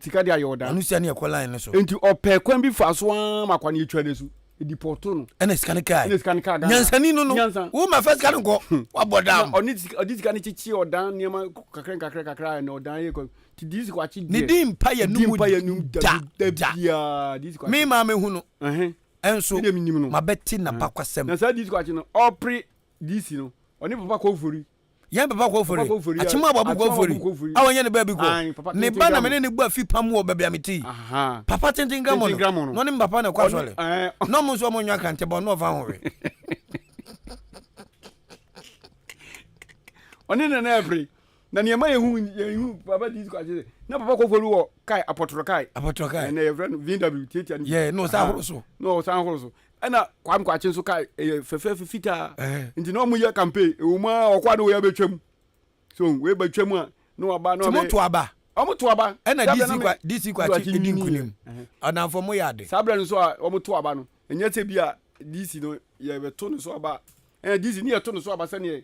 sika de ayɛ ɔdan. Ɔno sɛ ne yɛkɔ line no so. Nti ɔpɛ kwan bi fa so ara ma Kwame twa n'asu. edipɔto no. ɛna sika no kaa ɛna sika no kaa ghana nyansani no no nyansa wo ma fɛ sika no nkɔ hmm. wabɔ dam na ɔne sika ɔde sika no kyekye ɔdan nneɛma kakra kakra kakra ɛna ɔdan yɛ kɔ ti di sika wakye deɛ ne di mpa yɛ numu mpa yɛ numu da da biara di sika mi maa mi hu no ɛnso ma bɛ ti na hmm. ba kwasɛm na saa di sika wakye no ɔpere di si no ɔne papa kɔ ofori Yɛn papa kɔ ofori, akyem a wɔabu kɔ ofori, a wɔnyɛ ne baabi kɔ. Ne ba na me ne no bu afi pa mu wɔ baabi a mete yi. Papa tenten Gramono, na ɔne me papa na ɛkɔ asɔre, na wɔn nso wɔnywa Krantɛ bɔn na wɔmfa ho hwee. Ɔne Nana Ɛfiri. Na nea ɛma yɛhu yɛhu papa di kɔ akyere na papa kɔ ofori wɔ kae apɔtɔrɔ kae. Apɔtɔrɔ kae. Ɛnna yɛfrɛ no VW tiatia no. Yɛ na ɔsan ahoro so. Na ɔsan ahoro so. Ɛna Kwame Kwakye nso kae ɛyɛ fɛfɛɛfɛ fitaa nti na wɔn yɛ campaign ɛwɔ mu a ɔkɔ a na wɔyɛ abɛtwam so wɔyɛ bɛtwam a na wɔaba na wɔbɛ. Timo to aba. Wɔn to aba. Ɛna DC kwa DC Kwakye edi nkunim. Ɔnamfo mo yɛ ade. Saa abirɛ no nso a wɔn to aba no ɛnyɛ sɛ bi a DC no yɛbɛto ne so aba ɛna DC ne yɛto ne so aba sɛdeɛ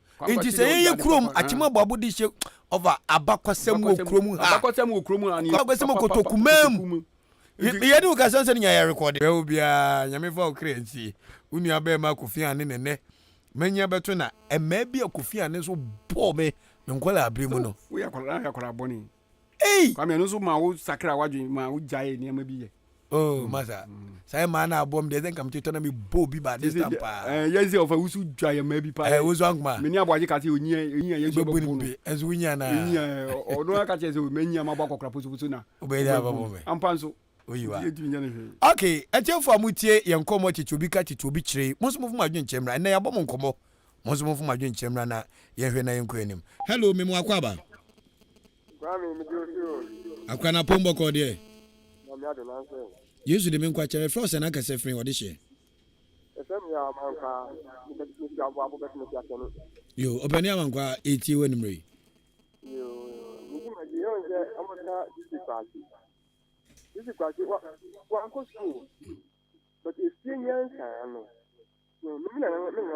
Enti sɛ yɛn yɛ kurom akyem aboabo de hyɛ ɔfa abakɔsɛm wɔ kurom ha. Abakɔsɛm wɔ kurom ha. Abakɔsɛm wɔ kotoku man mu. Yɛne wo kasa sɛ ne nya yɛ rekɔde. Bɛwo biara nyame fa wo kra nsie. Wo nua bɛɛma Kofi Ane ne nɛ manya bɛto na ɛmaa bi a Kofi Ane nso bɔɔ me me nkɔlaa bere mu no. Woyɛ akɔlaa na woyɛ akɔlaa bɔne. Ei! Kwame ɛno nso ma wo sakra wadwen ma wo gyae nneɛma bi yɛ. Oh, mm. masa. Mm. Saa mmaa no abom deɛ sɛ nka mete tɔ na mebɔ bi ba this time paa. Eh, yɛn sɛ ɔfa wusu dwa yɛ mmaa bi paa. Eh, wusu ankoma. Mene aboagye ka sɛ onyia onyia yɛn nso bɛbu no. Ɛnso wonyia na. Onyia ɔno aka kyerɛ sɛ ɔmanyia ma bɔ akɔkora posoposo na. Wobɛyɛ dɛ abɛbɔ me. Ampa nso. oyiwa ok atiefo a motie yɛn nkɔmmɔ tete obi ka tete obi kyerɛ yi mo nso mofo mo adwene kyerɛ mmra ɛnna yɛabɔ mo nkɔmmɔ mo nso mofo mo adwene kyerɛ mmra na yɛnhwɛ na yɛnkɔ anim hello memo akɔ aba akora na pɔn bɔkɔ deɛ yesu de me nkwa kyɛ mefrɛ sɛ na akasɛ fene ɔde hyɛ yo ɔpɛne amankwa ɛtie wɔ animmerɛ yi Sisi kwasi wa wa nkɔ sukuu o but efie nyansa ano no mi na mi na.